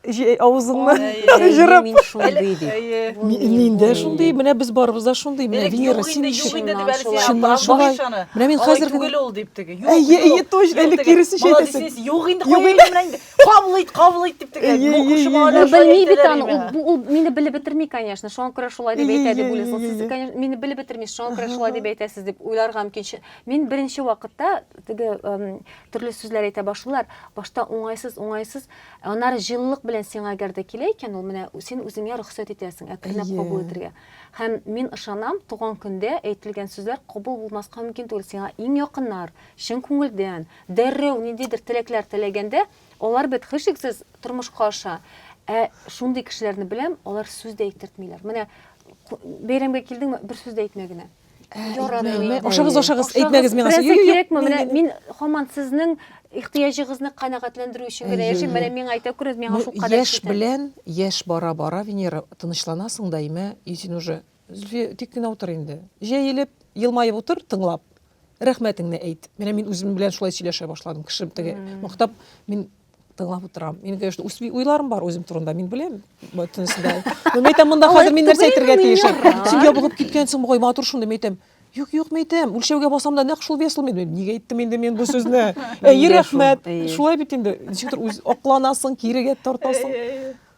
Җей авызыңны җырып. Мин шундый ди. Мин дә шундый, менә без барыбыз да шундый. Менә Венера, син ничек? Чыннан шулай. Менә мин хәзер генә. Түгел ул дип теге. Әйе, әйе, точно, әле киресенчә әйтәсең. Молодец, юк инде, кая инде менә инде. Кабул ит, кабул ит дип теге. Белми бит аны. Ул мине белеп бетерми, конечно. Шуңа күрә шулай дип әйтә дип уйлыйсың. Сез, конечно, мине белеп бетермисез. Шуңа күрә шулай дип әйтәсез дип уйларга мөмкин. Мин беренче вакытта теге төрле сүзләр әйтә башлыйлар. Башта уңайсыз, уңайсыз. Ә аннары җылылык белән сиңа әгәр дә килә икән ул, менә син үзеңә рөхсәт итәсең, әкренләп Әйе. кабул итәргә. Һәм мин ышанам, туган көндә әйтелгән сүзләр кабул булмаска мөмкин түгел. Сиңа иң якыннар, чын күңелдән, дәррәү ниндидер теләкләр теләгәндә, алар бит һичшиксез тормышка аша. Ә шундый кешеләрне беләм, алар сүз дә әйтертмиләр. Менә бәйрәмгә килдеңме, бер сүз дә әйтмә генә. Яратмый. Ашагыз, ашагыз, әйтмәгез миңа. Берәр кирәкме? Менә мин хаман сезнең ихтыяҗыгызны канәгатьләндерү өчен генә яшим. Менә миңа әйтә күрегез, миңа шул кадәр. Яшь белән, яшь бара-бара, Венера, тынычланасың да, имә, и син уже Зөлфия, тик кенә утыр инде. Җәелеп, елмаеп утыр, тыңлап. Рәхмәтеңне әйт. Менә мин үзем белән шулай сөйләшә башладым. Кеше теге мактап, мин тыңлап утырам. Мин, конечно, үз уйларым бар үзем турында, мин беләм. Бөтен сүздә. Мин әйтәм, монда хәзер мин нәрсә әйтергә тиеш? Син ябыгып киткәнсең, бугай матур шундый, мин әйтәм. Юк, юк, мин әйтәм, үлчәүгә басам да нәкъ шул вес ул. Мин нигә әйттем инде мин бу сүзне? Әй, рәхмәт. Шулай бит инде. Ничектер үз акланасың, кирегә тартасың.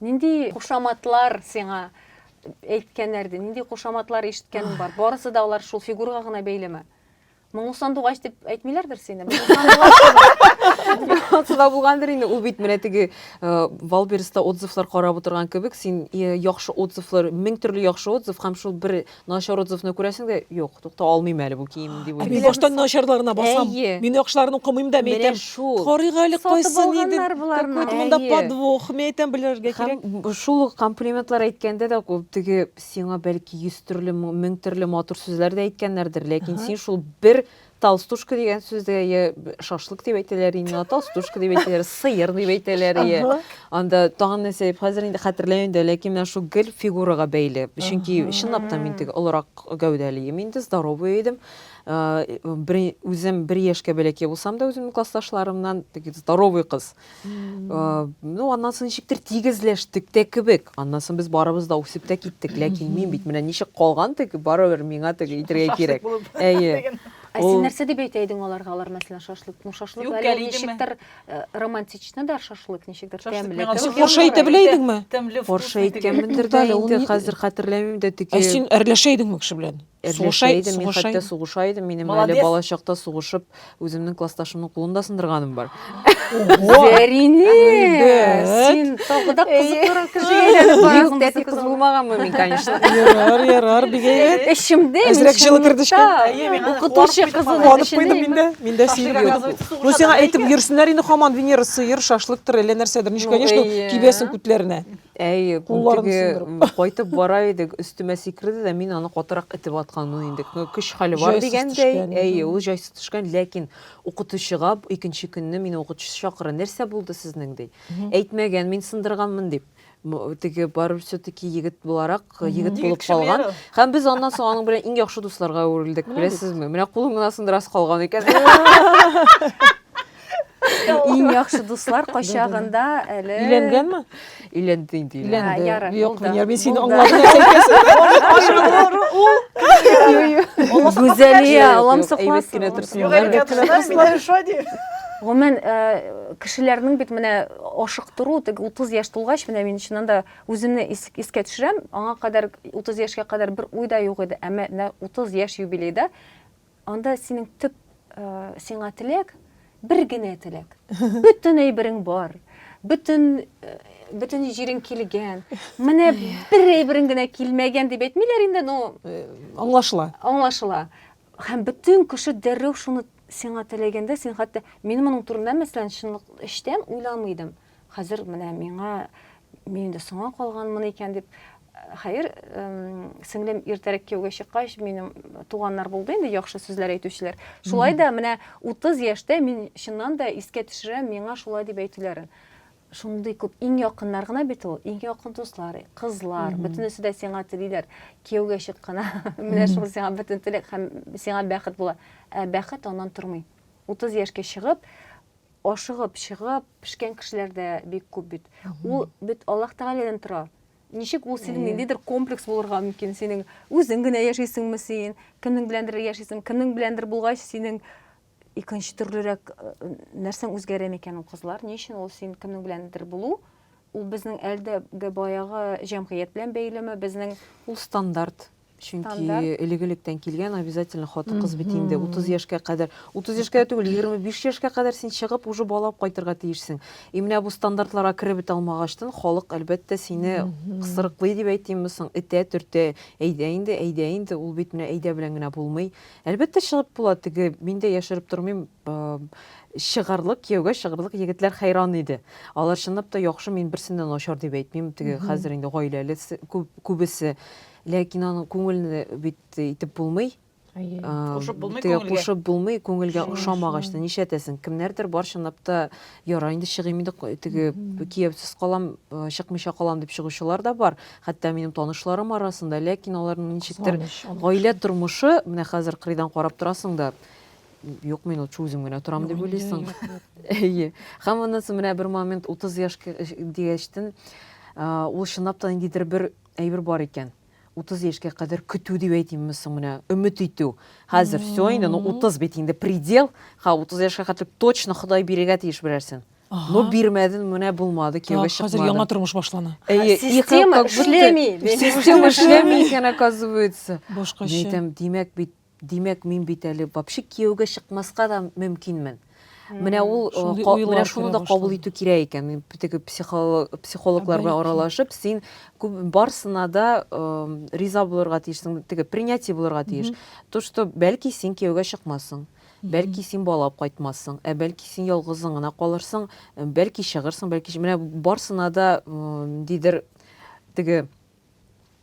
Нинди кушаматлар сиңа әйткәннәр иде? Нинди кушаматлар ишеткәнең бар? Барысы да алар шул фигурага гына бәйлеме? Моңлы сандугач дип әйтмиләрдер сине. Суда булгандыр инде. Ул бит менә теге Валберста отзывлар карап утырган кебек, син яхшы отзывлар, мең төрле яхшы отзыв һәм шул бер Начар отзывны күрәсең дә, юк, тукта алмыйм әле бу киемне дип уйлыйсың. Мин баштан начарларына басам. Мин яхшыларын укымыйм да, мин әйтәм, карыйк әле кайсы нидер. Какой-то монда подвох. Мин әйтәм, белергә кирәк. Һәм шул ук комплиментлар әйткәндә дә, теге сиңа бәлки йөз төрле, мең төрле матур сүзләр дә әйткәннәрдер, ләкин син шул бер толстушка дигән сүздә я шашлык дип әйтәләр инде толстушка дип әйтәләр сыер дип әйтәләр я анда тагын нәрсә дип хәзер инде хәтерләмим дә ләкин менә шул гел фигурага бәйле чөнки чынлап та мин теге олырак гәүдәле идем инде здоровый идем үзем бер яшькә бәләкәй булсам да үземнең классташларымнан теге здоровый кыз Э, ну аннан соң ничектер тигезләштек тә кебек аннан соң без барыбыз да үсеп тә киттек ләкин мин бит менә ничек калган теге барыбер миңа теге итергә кирәк әйе ә син нәрсә дип әйтә идең аларга алар мәсәлән шашлык ну шашлык әле ничектер э, романтично да шашлык ничектер тәмле форша әйтә белә идеңме форша әйткәнмендер дә инде хәзер хәтерләмим дә теге ә син әрләшә идеңме кеше белән Эрләшә идем, мин хәтта сугыша идем, минем әле балачакта сугышып, үземнең классташымның кулын да сындырганым бар. Зәринә! Син тагы да кызыклырак кеше әйләнеп барасың. Тәти кыз булмаганмы мин, конечно. Ярар, ярар, бик әйбәт. Эчемдә Әзрәк җылы кердешкән. Укытучы кызының эченә. Мин дә, мин дә сиеп йөрдем. Ну, сиңа әйтеп йөрсеннәр инде хаман Венера сыер, шашлыктыр, әллә нәрсәдер. Ничек, конечно, кибәсең күтләренә. Әй, күнтеге кайтып бара идек, өстемә сикерде дә, мин аны катырак итеп атканмын инде. Көч хәле бар дигәндәй, әй, ул җайсыз төшкән, ләкин укытучыга икенче көнне мин укытучы чакыра, нәрсә булды сезнең ди. Әйтмәгән, мин сындырганмын дип. Теге бар все-таки егет буларак, егет булып калган. Һәм без аннан соң аның белән иң яхшы дусларга әверелдек, беләсезме? Менә кулың гына сындырасы калган икән. Иң яхшы дуслар качагында әле Өйләнгәнме? Өйләнде инде. Ярар, Юк, Венера, мин сине аңладым. Гүзәлия, аламсыклас. Гомумән, кешеләрнең бит менә ашыктыру, теге 30 яшь тулгач, менә мин чыннан да үземне искә төшерәм, аңа кадәр 30 яшькә кадәр бер уй да юк иде, әмма 30 яшь юбилейда Анда синең төп сиңа теләк, бер генә теләк. Бөтен әйберең бар, бөтен бөтен җирең килгән. Менә бер әйберең генә килмәгән дип әйтмиләр инде, но э, аңлашыла. Аңлашыла. Һәм бөтен кеше дәррәү шуны сиңа теләгәндә, син хәтта мин моның турында мәсәлән чынлык эчтән уйламый идем. Хәзер менә миңа мин инде соңа калганмын икән дип хәер сеңлем иртәрәк кияүгә чыккач минем туганнар булды инде яхшы сүзләр әйтүчеләр шулай да менә 30 яшьтә мин чыннан да искә төшерәм миңа шулай дип әйтүләрен шундый күп иң якыннар гына бит ул иң якын дуслар кызлар бөтенесе дә сиңа телиләр кияүгә чык кына менә шул сиңа бөтен теләк һәм сиңа бәхет була ә бәхет аннан тормый 30 яшькә чыгып Ашыгып чыгып пешкән кешеләр дә бик күп бит. Ул бит Аллаһ Тәгаләдән тора. Ничек ул синең ниндидер комплекс булырга мөмкин? Синең үзең генә яшисеңме син? Кемнең беләндер яшисең? Кемнең беләндер булгач, синең икенче төрлерәк нәрсәң үзгәрә микән ул кызлар? Ни өчен ул син кемнең беләндер булу? Ул безнең әлдәге баягы җәмгыять белән бәйлеме? Безнең ул стандарт. Чөнки элек-электән килгән обязательно хатын-кыз бит инде 30 яшькә кадәр, 30 яшькә дә түгел, 25 яшькә кадәр син чыгып уже бала алып кайтырга тиешсең. И менә бу стандартларга кереп бет алмагачтын, халык әлбәттә сине кысрыклый дип әйтимме соң, этә, төртә. Әйдә инде, әйдә инде, ул бит менә әйдә белән генә булмый. Әлбәттә чыгып була, теге мин дә яшереп тормыйм, чыгарлык, кияүгә чыгарлык егетләр хәйран иде. Алар чынлап та яхшы, мин берсен дә начар дип әйтмим, теге хәзер инде гаиләле күбесе. Ләкин аның күңелне бит итеп булмый. Әйе. Кушып булмый күңелгә. Кушып булмый күңелгә ошамагач та нишләтәсең? Кемнәрдер бар чынлап та яра инде чыгыйм инде теге кияүсез калам, чыкмыйча калам дип чыгучылар да бар. Хәтта минем танышларым арасында, ләкин аларның ничектер гаилә тормышы, менә хәзер кырыйдан карап торасың да, юк мин лучше үзем генә торам дип уйлыйсың. Әйе. Һәм аннан соң менә бер момент 30 яшь дигәчтен ул чынлап та ниндидер бер Әйбер бар икән, утыз яшькә кадәр көтү дип әйтимме соң менә, өмет итү. Хәзер все инде, ну утыз бит инде предел, ха, утыз яшькә хәтле точно Ходай бирергә тиеш берәрсен. Ну бирмәде, менә булмады, кияүгә чыкмады. Хәзер яңа тормыш башлана. Әйе, система эшләми. Система эшләми икән, оказывается. Башкача. Әйтәм, димәк бит, Димәк, мин бит әле вообще кияүгә чыкмаска да мөмкинмен. Менә ул, менә шуны да кабул итү кирәк икән. Мин теге психологлар белән аралашып, син барсына да риза булырга тиешсең, теге принятие булырга тиеш. То, что бәлки син кияүгә чыкмассың, бәлки син бала алып кайтмассың, ә бәлки син ялгызың гына калырсың, бәлки чыгырсың, бәлки менә барсына да ниндидер теге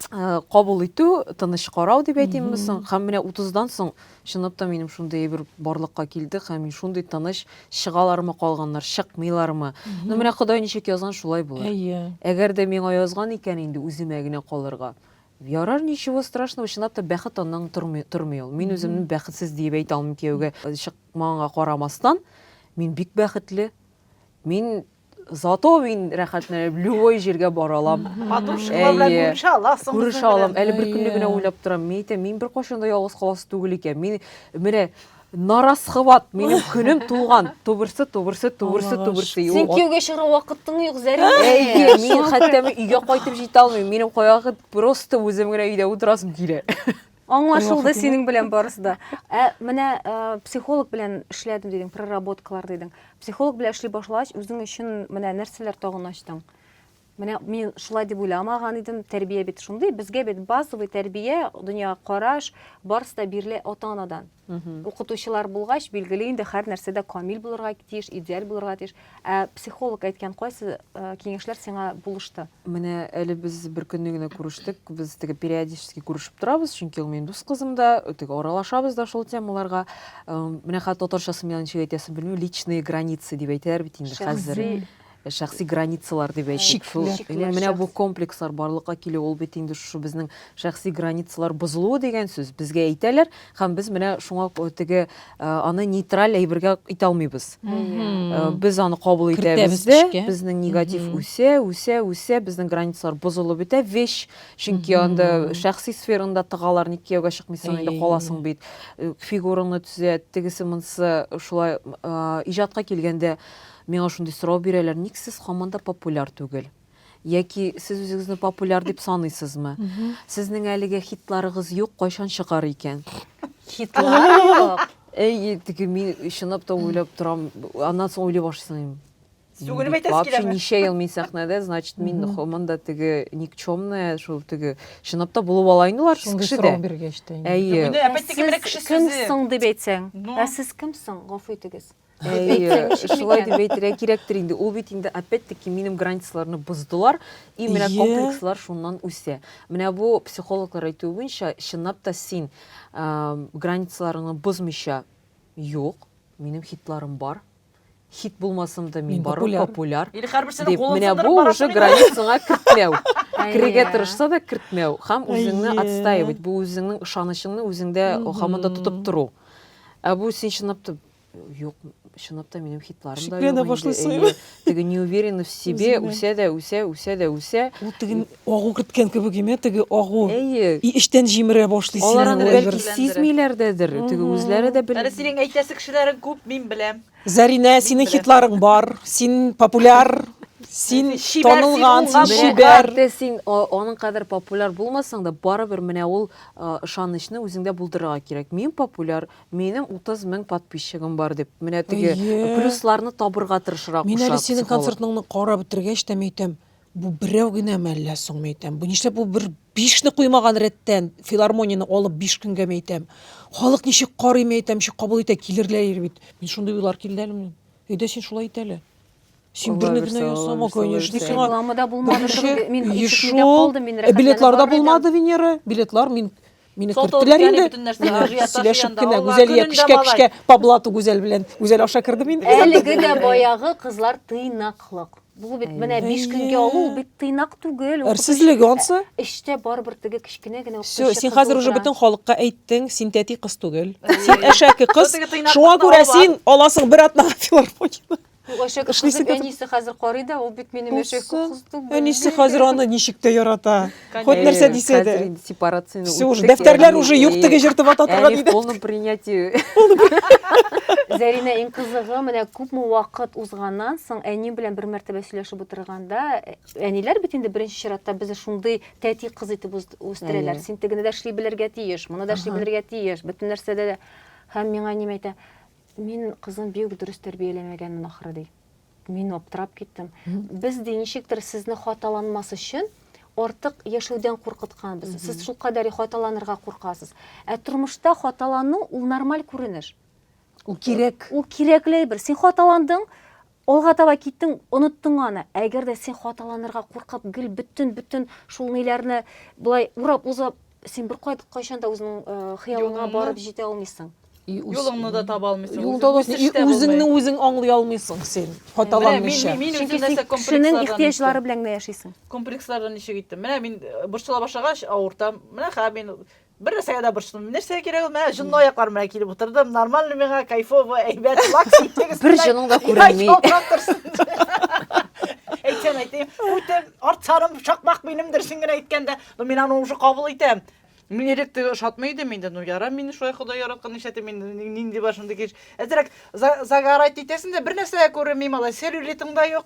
Э, кабул итү тыныч карау дип әйтимме соң һәм менә утыздан соң чынлап та минем шундый бер барлыкка килде һәм мин шундый тыныч чыгалармы калганнар чыкмыйлармы ну менә ходай ничек язган шулай булыр әйе әгәр дә миңа язган икән инде үземә генә калырга ярар ничего страшного чынлап та бәхет аннан тормый тормый ул мин үземне бәхетсез диеп әйтә алмыйм кияүгә чыкмаганга карамастан мин бик бәхетле мин Зато мин рәхәтләнеп любой җиргә бара алам. Подружкалар белән Әйе. күрешә аласың. Күрешә алам. Әле бер көнне генә уйлап торам. Мин әйтәм, мин беркайчан да ялгыз каласы түгел икән. Мин менә нарасхват, минем көнем туган. Тубырсы, тубырсы, тубырсы, Аллага тубырсы. И, Син ул- кияүгә чыгарга вакытың юк, Зәрә. Әйе, мин хәтта мен өйгә кайтып җитә алмыйм. Минем кайгы просто үзем генә өйдә утырасым килә. Аңлашылды синең белән барысы да. Ә менә психолог белән эшләдем дидең, проработкалар дидең. Психолог белән эшли башлагач, үзең өчен менә нәрсәләр тагын ачтың? Менә мин шулай дип уйламаган идем, тәрбия бит шундый, безгә бит базовый тәрбия, дөньяга караш, барысы да бирелә ата-анадан. Укытучылар булгач, билгеле инде, һәрнәрсә дә камил булырга тиеш, идеаль булырга тиеш. Ә психолог әйткән кайсы э, киңәшләр сиңа булышты? Менә әле без бер көнне генә күрештек. Без теге периодически күрешеп торабыз, чөнки ул минем дус кызым да, теге аралашабыз да шул темаларга. Э, Менә хәтта татарчасын миңа ничек әйтәсен белмим, личные границы дип әйтәләр бит инде хәзер. Шәхси шәхси границалар дип әйтик, шул менә бу комплекслар барлыкка килү, ул бит инде шушы безнең шәхси границалар бозылуы дигән сүз. Безгә әйтәләр һәм без менә шуңа теге аны нейтраль әйбергә итә алмыйбыз. Без аны кабул итәбез дә, безнең негатив үсә, үсә, үсә, безнең границалар бозылып бетә, вещь, чөнки анда шәхси сфераңда тыгалар, ник кияүгә чыкмыйсың, инде каласың бит. Фигураңны төзәт, тегесе-монысы шулай иҗатка килгәндә Миңа шундый сорау бирәләр, ник сез һаман да популяр түгел? Яки сез үзегезне популяр дип саныйсызмы? Сезнең әлегә хитларыгыз юк, кайчан чыгар икән? Хитлар юк. Әй, теге мин чынлап та уйлап торам. Аннан соң уйлый башлыйм. Түгелем әйтәсе Вообще киләме? ничә ел мин сәхнәдә, значит, мин Мгм. һаман да теге никчемная, шул теге чынлап та булып ала инде алар сез Шундый кешедә. сорау биргәч тә. инде. Әйе. Менә Ә опять-таки менә сез кеше сүзе. кемсең дип әйтсәң? Ну. Ә сез кемсең, гафу итегез? Әйе, шулай дип әйтергә кирәктер инде. Ул бит инде опять-таки минем границаларны боздылар, и менә комплекслар шуннан үсә. Менә бу психологлар әйтүе буенча, чынлап та син границаларыңны бозмыйча, юк, минем хитларым бар, хит булмасам да мин барым популяр. Или һәрберсенең кулын Менә бу уже границаңа кертмәү. Кирегә тырышса да кертмәү һәм үзеңне отстаивать, бу үзеңнең ышанычыңны үзеңдә һаман да тотып тору. Ә бу син чынлап та Юк, чынлап та минем хитларым да Шикләнә юк башлыйсың инде. Әйе, теге не уверен в себе, Үзеңә. үсә дә үсә, үсә дә үсә. Ул теге агу керткән кебек име, теге агу. Әйе. И эчтән җимерә башлый сине. Алар аны ул бәлки әйбер. сизмиләр дәдер, теге Мгм. үзләре дә бел. Әле синең әйтәсе кешеләрең күп, мин беләм. Зәринә, синең беләм. хитларың бар, син популяр, син Син чибәр, син танылган, уңган, син Менә чибәр. хәтта син а, аның кадәр популяр булмасаң да, барыбер менә ул а, ышанычны үзеңдә булдырырга кирәк. Мин популяр, Минем 30 мең подписчигым бар дип, менә теге плюсларны табырга тырышырга куша психолог. Мин әле синең концертыңны карап бетергәч тә, мин әйтәм, бу берәү генәме әллә соң, мин әйтәм, бу нишләп бу бер бишне куймаган рәттән, филармонияне алып биш көнгә, мин әйтәм, халык ничек карый, мин әйтәм, ничек кабул итә, килерләер бит. Мин шундый уйлар килде әле минем. Өйдә син шулай ит әле. Син берне генә ясама, конечно. Сиңа рекламада булмады, мин ишетмидә калдым, мин рәхәтләнеп Билетларда булмады, Венера, билетлар мин Мине Сот алып керттеләр яни инде. бөтен нәрсә Менә ажиотаж сөйләшеп янда. кенә Алла Гүзәлия көнендә кешкә малай. кешкә по блату Гүзәл белән. Гүзәл аша кердем инде. Әлеге дә баягы кызлар тыйнаклык. Бу бит менә 5 көнгә Әйе. алу, ул бит тыйнак түгел. укытучы- Әрсезлеге ансы. Эчтә барыбер теге кечкенә генә Все, укытучы син кызы хәзер уже утыра. бөтен халыкка әйттең, син тәти кыз түгел. Син әшәке кыз. Теге тыйнаклыкны Шуңа күрә алып син аласың бер атнага филармонияне. Әшәк кызып әнисе хәзер карый да, ул бит минем әшәк кызым. Әнисе хәзер аны ничек тә ярата. Хот нәрсә дисә дә. Сепарацияне үтте. Уже дәфтәрләр уже юк теге җыртып ата торган иде. Полном принятии. Зәринә иң кызыгы, менә күпме вакыт узганнан соң әни белән бер мәртәбә сөйләшеп утырганда, әниләр бит инде беренче чиратта безне шундый тәти кыз итеп үстерәләр. Син тегене дә эшли белергә тиеш, моны да эшли белергә тиеш, бөтен нәрсәдә дә. Һәм миңа әнием әйтә, Мин кызым бик дөрес тәрбияләмәгәнмен ахры, ди. Мин аптырап киттем. Без ди ничектер сезне хаталанмас өчен артык яшәүдән куркытканбыз. Сез шул кадәр хаталанырга куркасыз. Ә тормышта хаталану ул нормаль күренеш. Ул кирәк. Ул кирәкле бер. Син хаталандың, Алга таба киттең, оныттың аны. Әгәр дә син хаталанырга куркып, гел бөтен-бөтен шул ниләрне болай урап узып, син бер кай- кайчан да үзеңнең э, хыялыңа Юлыңны. барып җитә алмыйсың. И үз- Юлыңны да таба алмыйсың. Юлда да Үсеш и тә булмый. үзеңне үзең аңлый алмыйсың син, Менә мин, хаталанмыйча. мин, мин Чөнки үзем син нәрсә кешенең комплекслардан иттем. ихтыяҗлары белән генә яшисең. Комплекслардан ничек иттем. Менә мин э, борчыла башлагач, авыртам. Менә хәзер мин Бер нәрсәгә дә борчылдым. Нәрсә кирәк ул? Менә җонлы аякларым белән килеп утырдым. Нормально миңа, кайфово, әйбәт, лак ситегез. Бер җының да күренми. Әйтсәм әйтәм, үтем, арт сарым, шакмак минем дөресен генә әйткәндә, ну мин аны уже кабул итәм. Мин элек теге ошатмый идем инде, ну ярам мине шулай Ходай яраткан нишләтә мин нинди бар шундый кеш. Әзрәк загорать итәсең дә бер нәрсә дә күренми, малай, целлюлитың да юк,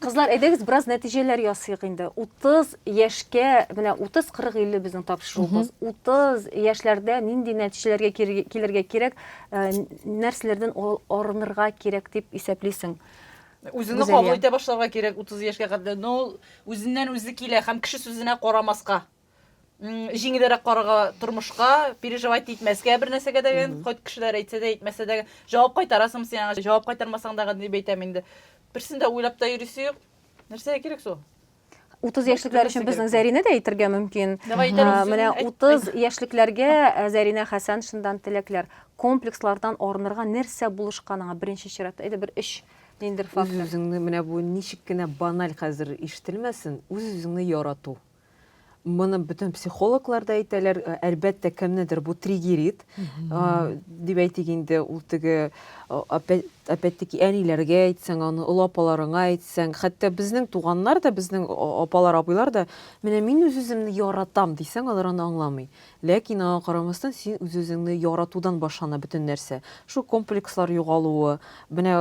Кызлар, әйдәгез бераз нәтиҗәләр ясыйк инде. 30 яшькә, менә 30, 40, 50 безнең тапшыруыбыз. 30 яшьләрдә нинди нәтиҗәләргә килергә кирәк, э, нәрсәләрдән арынырга кирәк дип исәплисең? Үзеңне кабул итә башларга кирәк 30 яшькә кадәр. Ну, үзеннән үзе килә һәм кеше сүзенә карамаска. җиңелрәк карарга тормышка переживать итмәскә бер нәрсәгә дә кайт кешеләр әйтсә дә әйтмәсә дә җавап кайтарасың син аңа җавап кайтармасаң дагы дип әйтәм инде берсен дә уйлап та йөрисе юк нәрсәгә кирәк су 30 яшьлекләр өчен безнең Зәринә дә әйтергә мөмкин. Менә 30 яшьлекләргә э, Зәринә Хәсән шындан теләкләр. Комплекслардан арынырга нәрсә булышканыңа беренче чиратта әйдә бер өч ниндер фактор. Үз-үзеңне менә бу ничек кенә баналь хәзер ишетелмәсен, үз-үзеңне ярату. Моны бөтен психологлар да әйтәләр, э, әлбәттә кемнедер бу триггерит, э, дип әйтик инде, ул теге э, опять-таки әниләргә әйтсәң, аны олы апаларыңа әйтсәң, хәтта безнең туганнар да, безнең апалар, абыйлар да, менә мин үз-үземне яратам дисәң, алар аны аңламый. Ләкин аңа карамастан син үз-үзеңне яратудан башлана бөтен нәрсә. Шул комплекслар югалуы, менә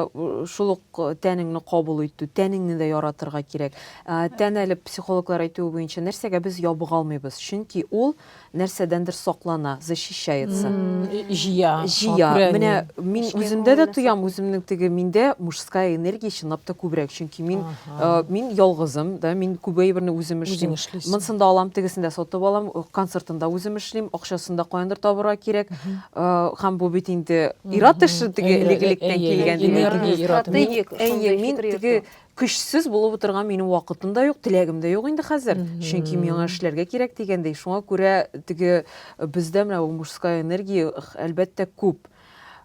шул ук тәнеңне кабул итү, тәнеңне дә яратырга кирәк. Тән әле психологлар әйтүе буенча нәрсәгә без ябыга алмыйбыз, чөнки ул нәрсәдәндер саклана, защищается. Җыя. Җыя. Менә мин үземдә дә тоям, үземнең теге миндә мужская энергия чынлап та күбрәк, чөнки мин Э, мин ялгызым да мин күп әйберне үзем эшлим монысын да алам тегесен дә сатып алам э, концертын да үзем эшлим акчасын да каяндыр табырга кирәк һәм э, бу бит инде ират эше теге элекелектән килгән әйе мин теге көчсез булып утырган минем вакытым да юк теләгем дә юк инде хәзер чөнки миңа эшләргә кирәк дигәндәй шуңа күрә теге бездә менә мужская энергия әлбәттә күп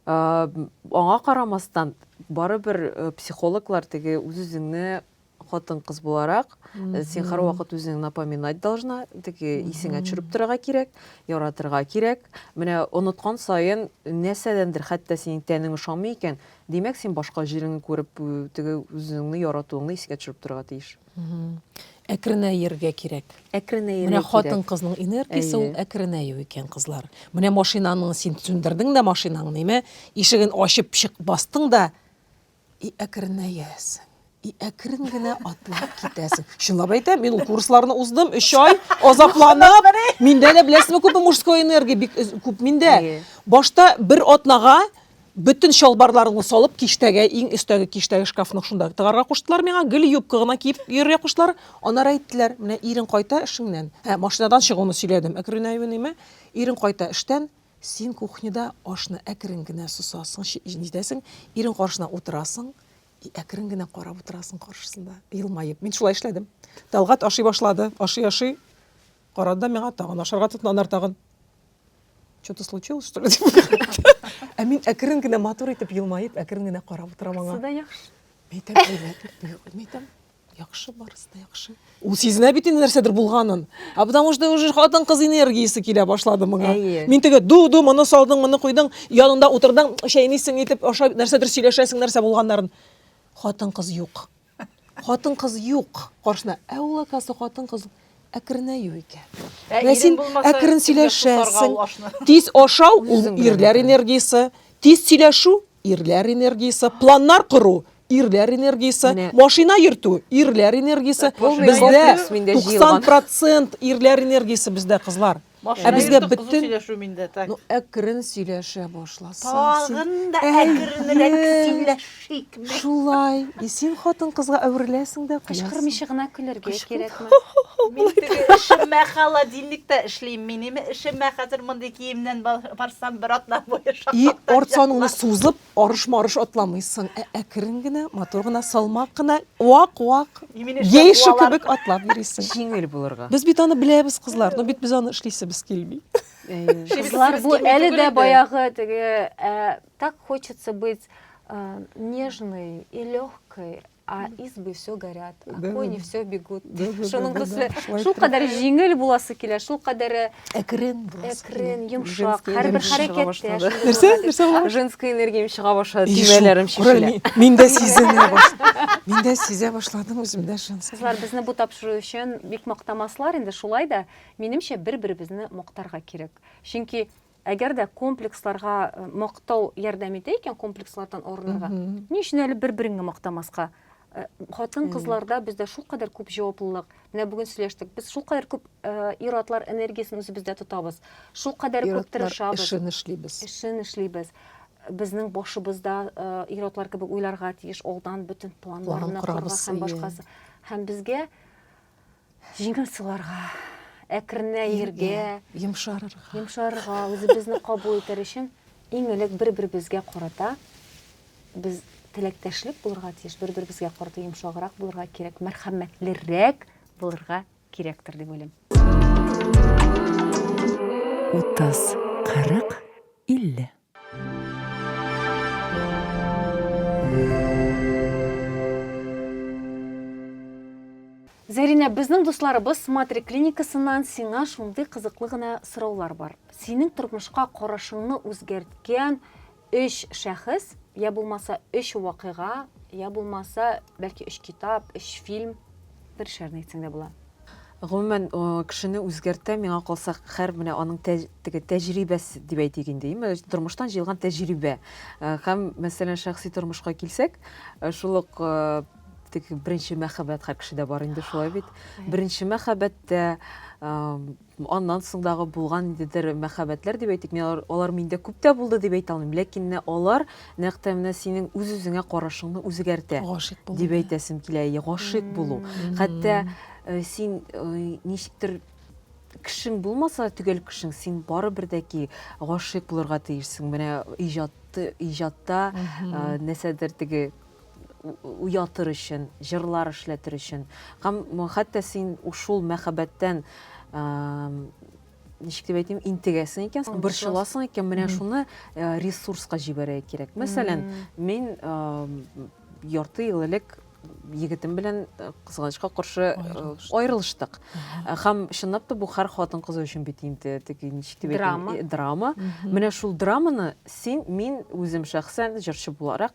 Аңа карамастан, барыбер э, психологлар теге үз-үзеңне хатын-кыз буларак, э, син һәрвакыт үзеңне напоминать должна, теге исеңә төшереп торырга кирәк, яратырга кирәк. Менә оныткан саен нәрсәдәндер, хәтта синең тәнең ошамый икән, димәк, син башка җиреңне күреп, э, теге үзеңне яратуыңны искә төшереп торырга тиеш. Әкренәергә кирәк. Әкренәергә Менә хатын-кызның энергиясе ул әкренәю икән, кызлар. Менә машинаның син сүндердең дә машинаң, ниме? Ишеген ачып чык бастың да, и әкренәясең. И әкрен генә атлап китәсең. Чынлап әйтәм, мин ул курсларны уздым, 3 ай азапланып, миндә дә беләсезме күпме мужской энергия бик күп миндә. Башта бер атнага Бөтен чалбарларымны салып, киштәгә, иң өстәге киштәге шкафның шунда тыгарга куштылар миңа. Гел юбка гына киеп йөрергә куштылар. Аннары әйттеләр, менә ирең кайта эшеңнән. Ә, машинадан чыгуны сөйләдем, әкренәюнеме. Ирең кайта эштән, син кухняда ашны әкрен генә сосасың, нитәсең, ирең каршына утырасың и әкрен генә карап утырасың каршысында, елмаеп. Мин шулай эшләдем. Тәлгать ашый башлады, ашый-ашый карады да миңа, тагын ашарга тотынды, аннары тагын. Что-то случилось, что ли? Ә мин әкрен генә матур итеп елмаеп, әкрен генә карап утырам аңа. Суда яхшы. Мәйтәм, әйбәт. Мәйтәм, яхшы барысы да яхшы. Ул сизенә бит инде нәрсәдер булганын. А потому что уже хатын кыз энергиясе килә башлады моңа. Әйе. Мин теге ду ду моны салдың, моны куйдың, янында утырдың, чәйнисең итеп, аша нәрсәдер сөйләшәсең, нәрсә булганнарын. Хатын кыз юк. Хатын-кыз юк каршына. Ә ул, оказывается, хатын-кыз әкренәю икән. Ә Менә син әкрен сөйләшәсең. Тиз ашау ул ирләр энергиясе, тиз сөйләшү ирләр энергиясе, планнар кору ирләр энергиясе, машина йөртү ирләр энергиясе. Бездә 90% ирләр энергиясе бездә, кызлар. Ә безгә бөтен ну әкрен сөйләшә башласаң. Тагын да әкренрәк сөйләшик. Шулай. И син хатын кызга әвереләсең дә куясың. Кычкырмыйча гына көлергә кирәкме? Мин теге эшемә холодильникта эшлим. Минем эшемә хәзер мондый киемнән барсам бер атна буе шаккатырачак. И арт саныңны сузып, Арыш-марыш атламыйсың, ә әкрен генә, матур гына, салмак кына, вак-вак, гейша кебек атлап йөрисең. Җиңел булырга. Без бит аны беләбез, кызлар, но бит без аны эшлисебез килми. Кызлар, бу әле дә баягы теге, так хочется быть нежной и легкой, А избы все горят, а да, кони да. все бегут. Да, да, Шуның да, төсле, да, да. шул кадәр җиңел буласы килә, шул кадәр әкрен буласы әкрен, йомшак, һәрбер хәрәкәттә. Нәрсә? Нәрсә була? Женская энергия чыга башлады, төймәләрем шешелә. Мин дә сизенә башладым. Мин дә сизә башладым үземдә женская. Кызлар, безне бу тапшыру өчен бик мактамаслар инде, шулай да, минемчә, бер-беребезне мактарга кирәк. Чөнки Әгәр дә комплексларга мактау ярдәм итә икән, комплекслардан арынырга, ни өчен әле бер-береңне мактамаска? Хатын-кызларда бездә шулкадәр күп җаваплылык. Менә бүген сөйләштек, без шулкадәр күп ир-атлар энергиясен үзебездә тотабыз. Шулкадәр күп тырышабыз. Ир-атлар эшен эшлибез. Эшен эшлибез. Безнең башыбыз да ир-атлар кебек уйларга тиеш, алдан бөтен планнарны корырга һәм башкасы. Һәм безгә Җиңел суларга, әкренәергә, йомшарырга. Йомшарырга, үзебезне кабул итәр өчен иң элек бер-беребезгә карата без теләктәшлек булырга тиеш, бер-беребезгә карата йомшаграк булырга кирәк, мәрхәмәтлерәк булырга кирәктер дип уйлыйм. 30, 40, 50. Зәринә, безнең дусларыбыз Смотри клиникасыннан сиңа шундый кызыклы гына сораулар бар. Синең тормышка карашыңны үзгәрткән өч шәхес, я булмаса өч вакыйга, я булмаса, бәлки өч китап, өч фильм, бер эшләрне әйтсәң дә була. Гомумән, кешене үзгәртә, миңа калса, хәр менә аның тә, теге тәҗрибәсе дип әйтик инде, име, тормыштан җыелган тәҗрибә. Һәм, мәсәлән, шәхси тормышка килсәк, шул ук теге беренче мәхәббәт һәр кешедә бар инде шулай бит. Беренче мәхәббәттә Аннан соңдагы булган ниндидер мәхәббәтләр дип әйтик, мин алар, алар миндә күп тә булды дип әйтә алмыйм, ләкин менә алар нәкъ тә менә синең үз-үзеңә карашыңны үзгәртә Гашыйк булу, дип әйтәсем килә. Әйе, гашыйк булу. Хәтта э, син э, ничектер кешең булмаса да төгәл кешең, син барыбер дә ки гашыйк булырга тиешсең. Менә иҗатты, иҗатта э, нәрсәдер теге уятыр өчен, җырлар эшләтер өчен. Һәм хәтта син шул мәхәббәттән ничек дип әйтим, интегәсең икән, борчыласың икән, менә шуны э, ресурска җибәрә кирәк. Мәсәлән, мин ярты ел элек егетем белән э, кызганычка каршы э, аерылыштык э, һәм чынлап та бу һәр хатын кыз өчен бит инде теге ничек дип драма драма менә шул драманы син мин үзем шәхсән җырчы буларак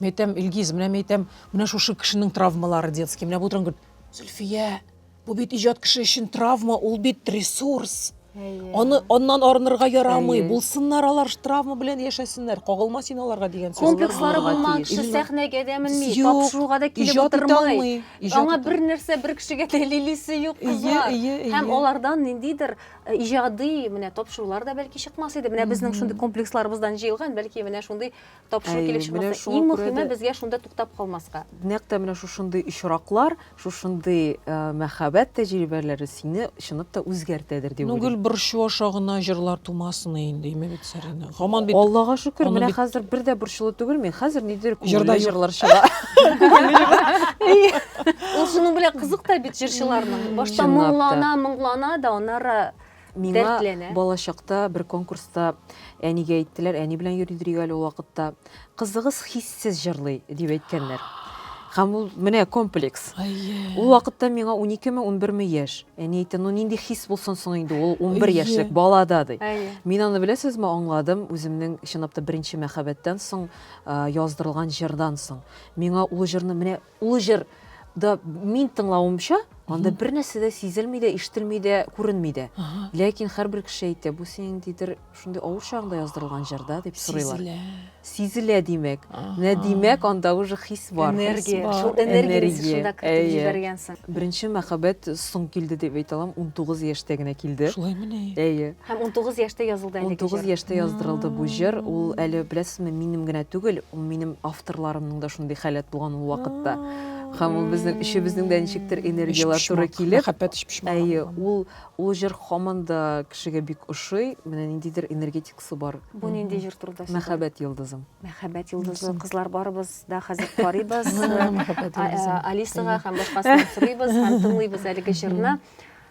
Мин әйтәм, Илгиз, менә мин әйтәм, менә шушы кешенең травмалары детский, менә бу транкт. Зөлфия, бу бит иҗат кеше өчен травма, ул бит ресурс. Аны аннан арынырга ярамый. Булсыннар алар травма белән яшәсеннәр. Кагылма син аларга дигән сүз. Комплекслары булмаган кеше сәхнәгә дә менми, тапшыруга да килеп утырмый. Аңа бер нәрсә бер кешегә дәлилисе юк кызлар. Һәм алардан ниндидер э, иҗади менә тапшырулар да бәлки чыкмас иде. Менә безнең шундый комплексларыбыздан җыелган, бәлки менә шундый тапшыру килеп чыкмаса, иң мөһиме безгә шунда туктап калмаска. Нәкъ тә менә шушындый очраклар, шушындый э, мәхәббәт тәҗрибәләре сине чынлап та үзгәртәдер дип уйлыйм. Гел борчу аша гына җырлар тумасын инде, дими бит Сәринә. Гаман бит Аллага шөкер, менә бит... хәзер бер дә борчулы түгел мин. Хәзер нидер күңелле җырлар чыга. Ул шуның белән кызык та бит җырчыларның. Башта моңлана, моңлана да, аннары Миңа балачакта бер конкурста әнигә әйттеләр, әни белән йөри дирик әле ул вакытта. Кызыгыз хиссез җырлый, дип әйткәннәр. Һәм ул менә комплекс. Ул вакытта миңа 12 ме, 11 ме яшь. Әни әйтте, ну нинди хис булсын соң инде ул 11 яшьлек балада, ди. Мин аны беләсезме, аңладым, үземнең чынлап та беренче мәхәббәттән соң яздырылган җырдан соң. Миңа ул җырны менә Олы җыр да мин тыңлавымча, анда бер нәрсә дә сизелми дә, ишетелми дә, күренми дә. Ләкин һәрбер кеше әйтә, бу синең ниндидер шундый авыр чагыңда яздырылган җыр да, дип сорыйлар. Сизелә. Сизелә, димәк. Менә димәк, анда уже хис бар. Энергия. Шул энергияне син шунда кертеп җибәргәнсең. Беренче мәхәббәт соң килде дип әйтә алам, унтугыз яшьтә генә килде. Шулаймыни? Әйе. Һәм унтугыз яшьтә язылды әлеге җыр. Унтугыз яшьтә яздырылды бу җыр. Ул әле, беләсезме, минем генә түгел, ул минем авторларымның да шундый халәт булган ул вакытта. Һәм ул безнең өчебезнең дә ничектер энергияләр туры килеп. Мәхәббәт өчпочмак. Әйе, ул ул җыр һаман да кешегә бик ошый. Менә ниндидер энергетикасы бар. Бу нинди җыр турында сөйли? Мәхәббәт йолдызым. Мәхәббәт йолдызы. Кызлар барыбыз да хәзер карыйбыз. Алисага һәм башкасына сорыйбыз һәм тыңлыйбыз әлеге җырны.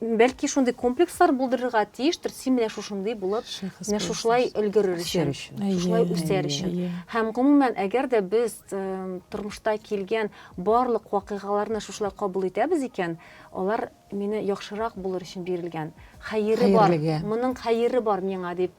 Бәлки шундый комплекслар булдырырга тиештер, син менә шушындый булып, менә шушылай өлгерер өчен, шушылай үсәр өчен. Һәм гомумән, әгәр дә без тормышта килгән барлык вакыйгаларны шушылай кабул итәбез икән, алар мине яхшырак булыр өчен бирелгән, хәере бар, моның хәере бар миңа дип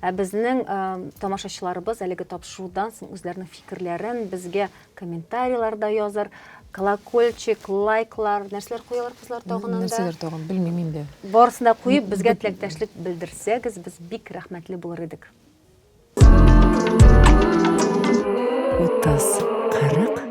Ә безнең тамашачыларыбыз әлеге тапшырудан соң үзләренең фикерләрен безгә комментарийларда язар, колокольчик, лайклар, нәрсәләр куялар кызлар тагын анда? Нәрсәләр тагын, белмим инде. Барысын да куеп, безгә теләктәшлек белдерсәгез, без бик рәхмәтле булыр идек. Утыз, кырык,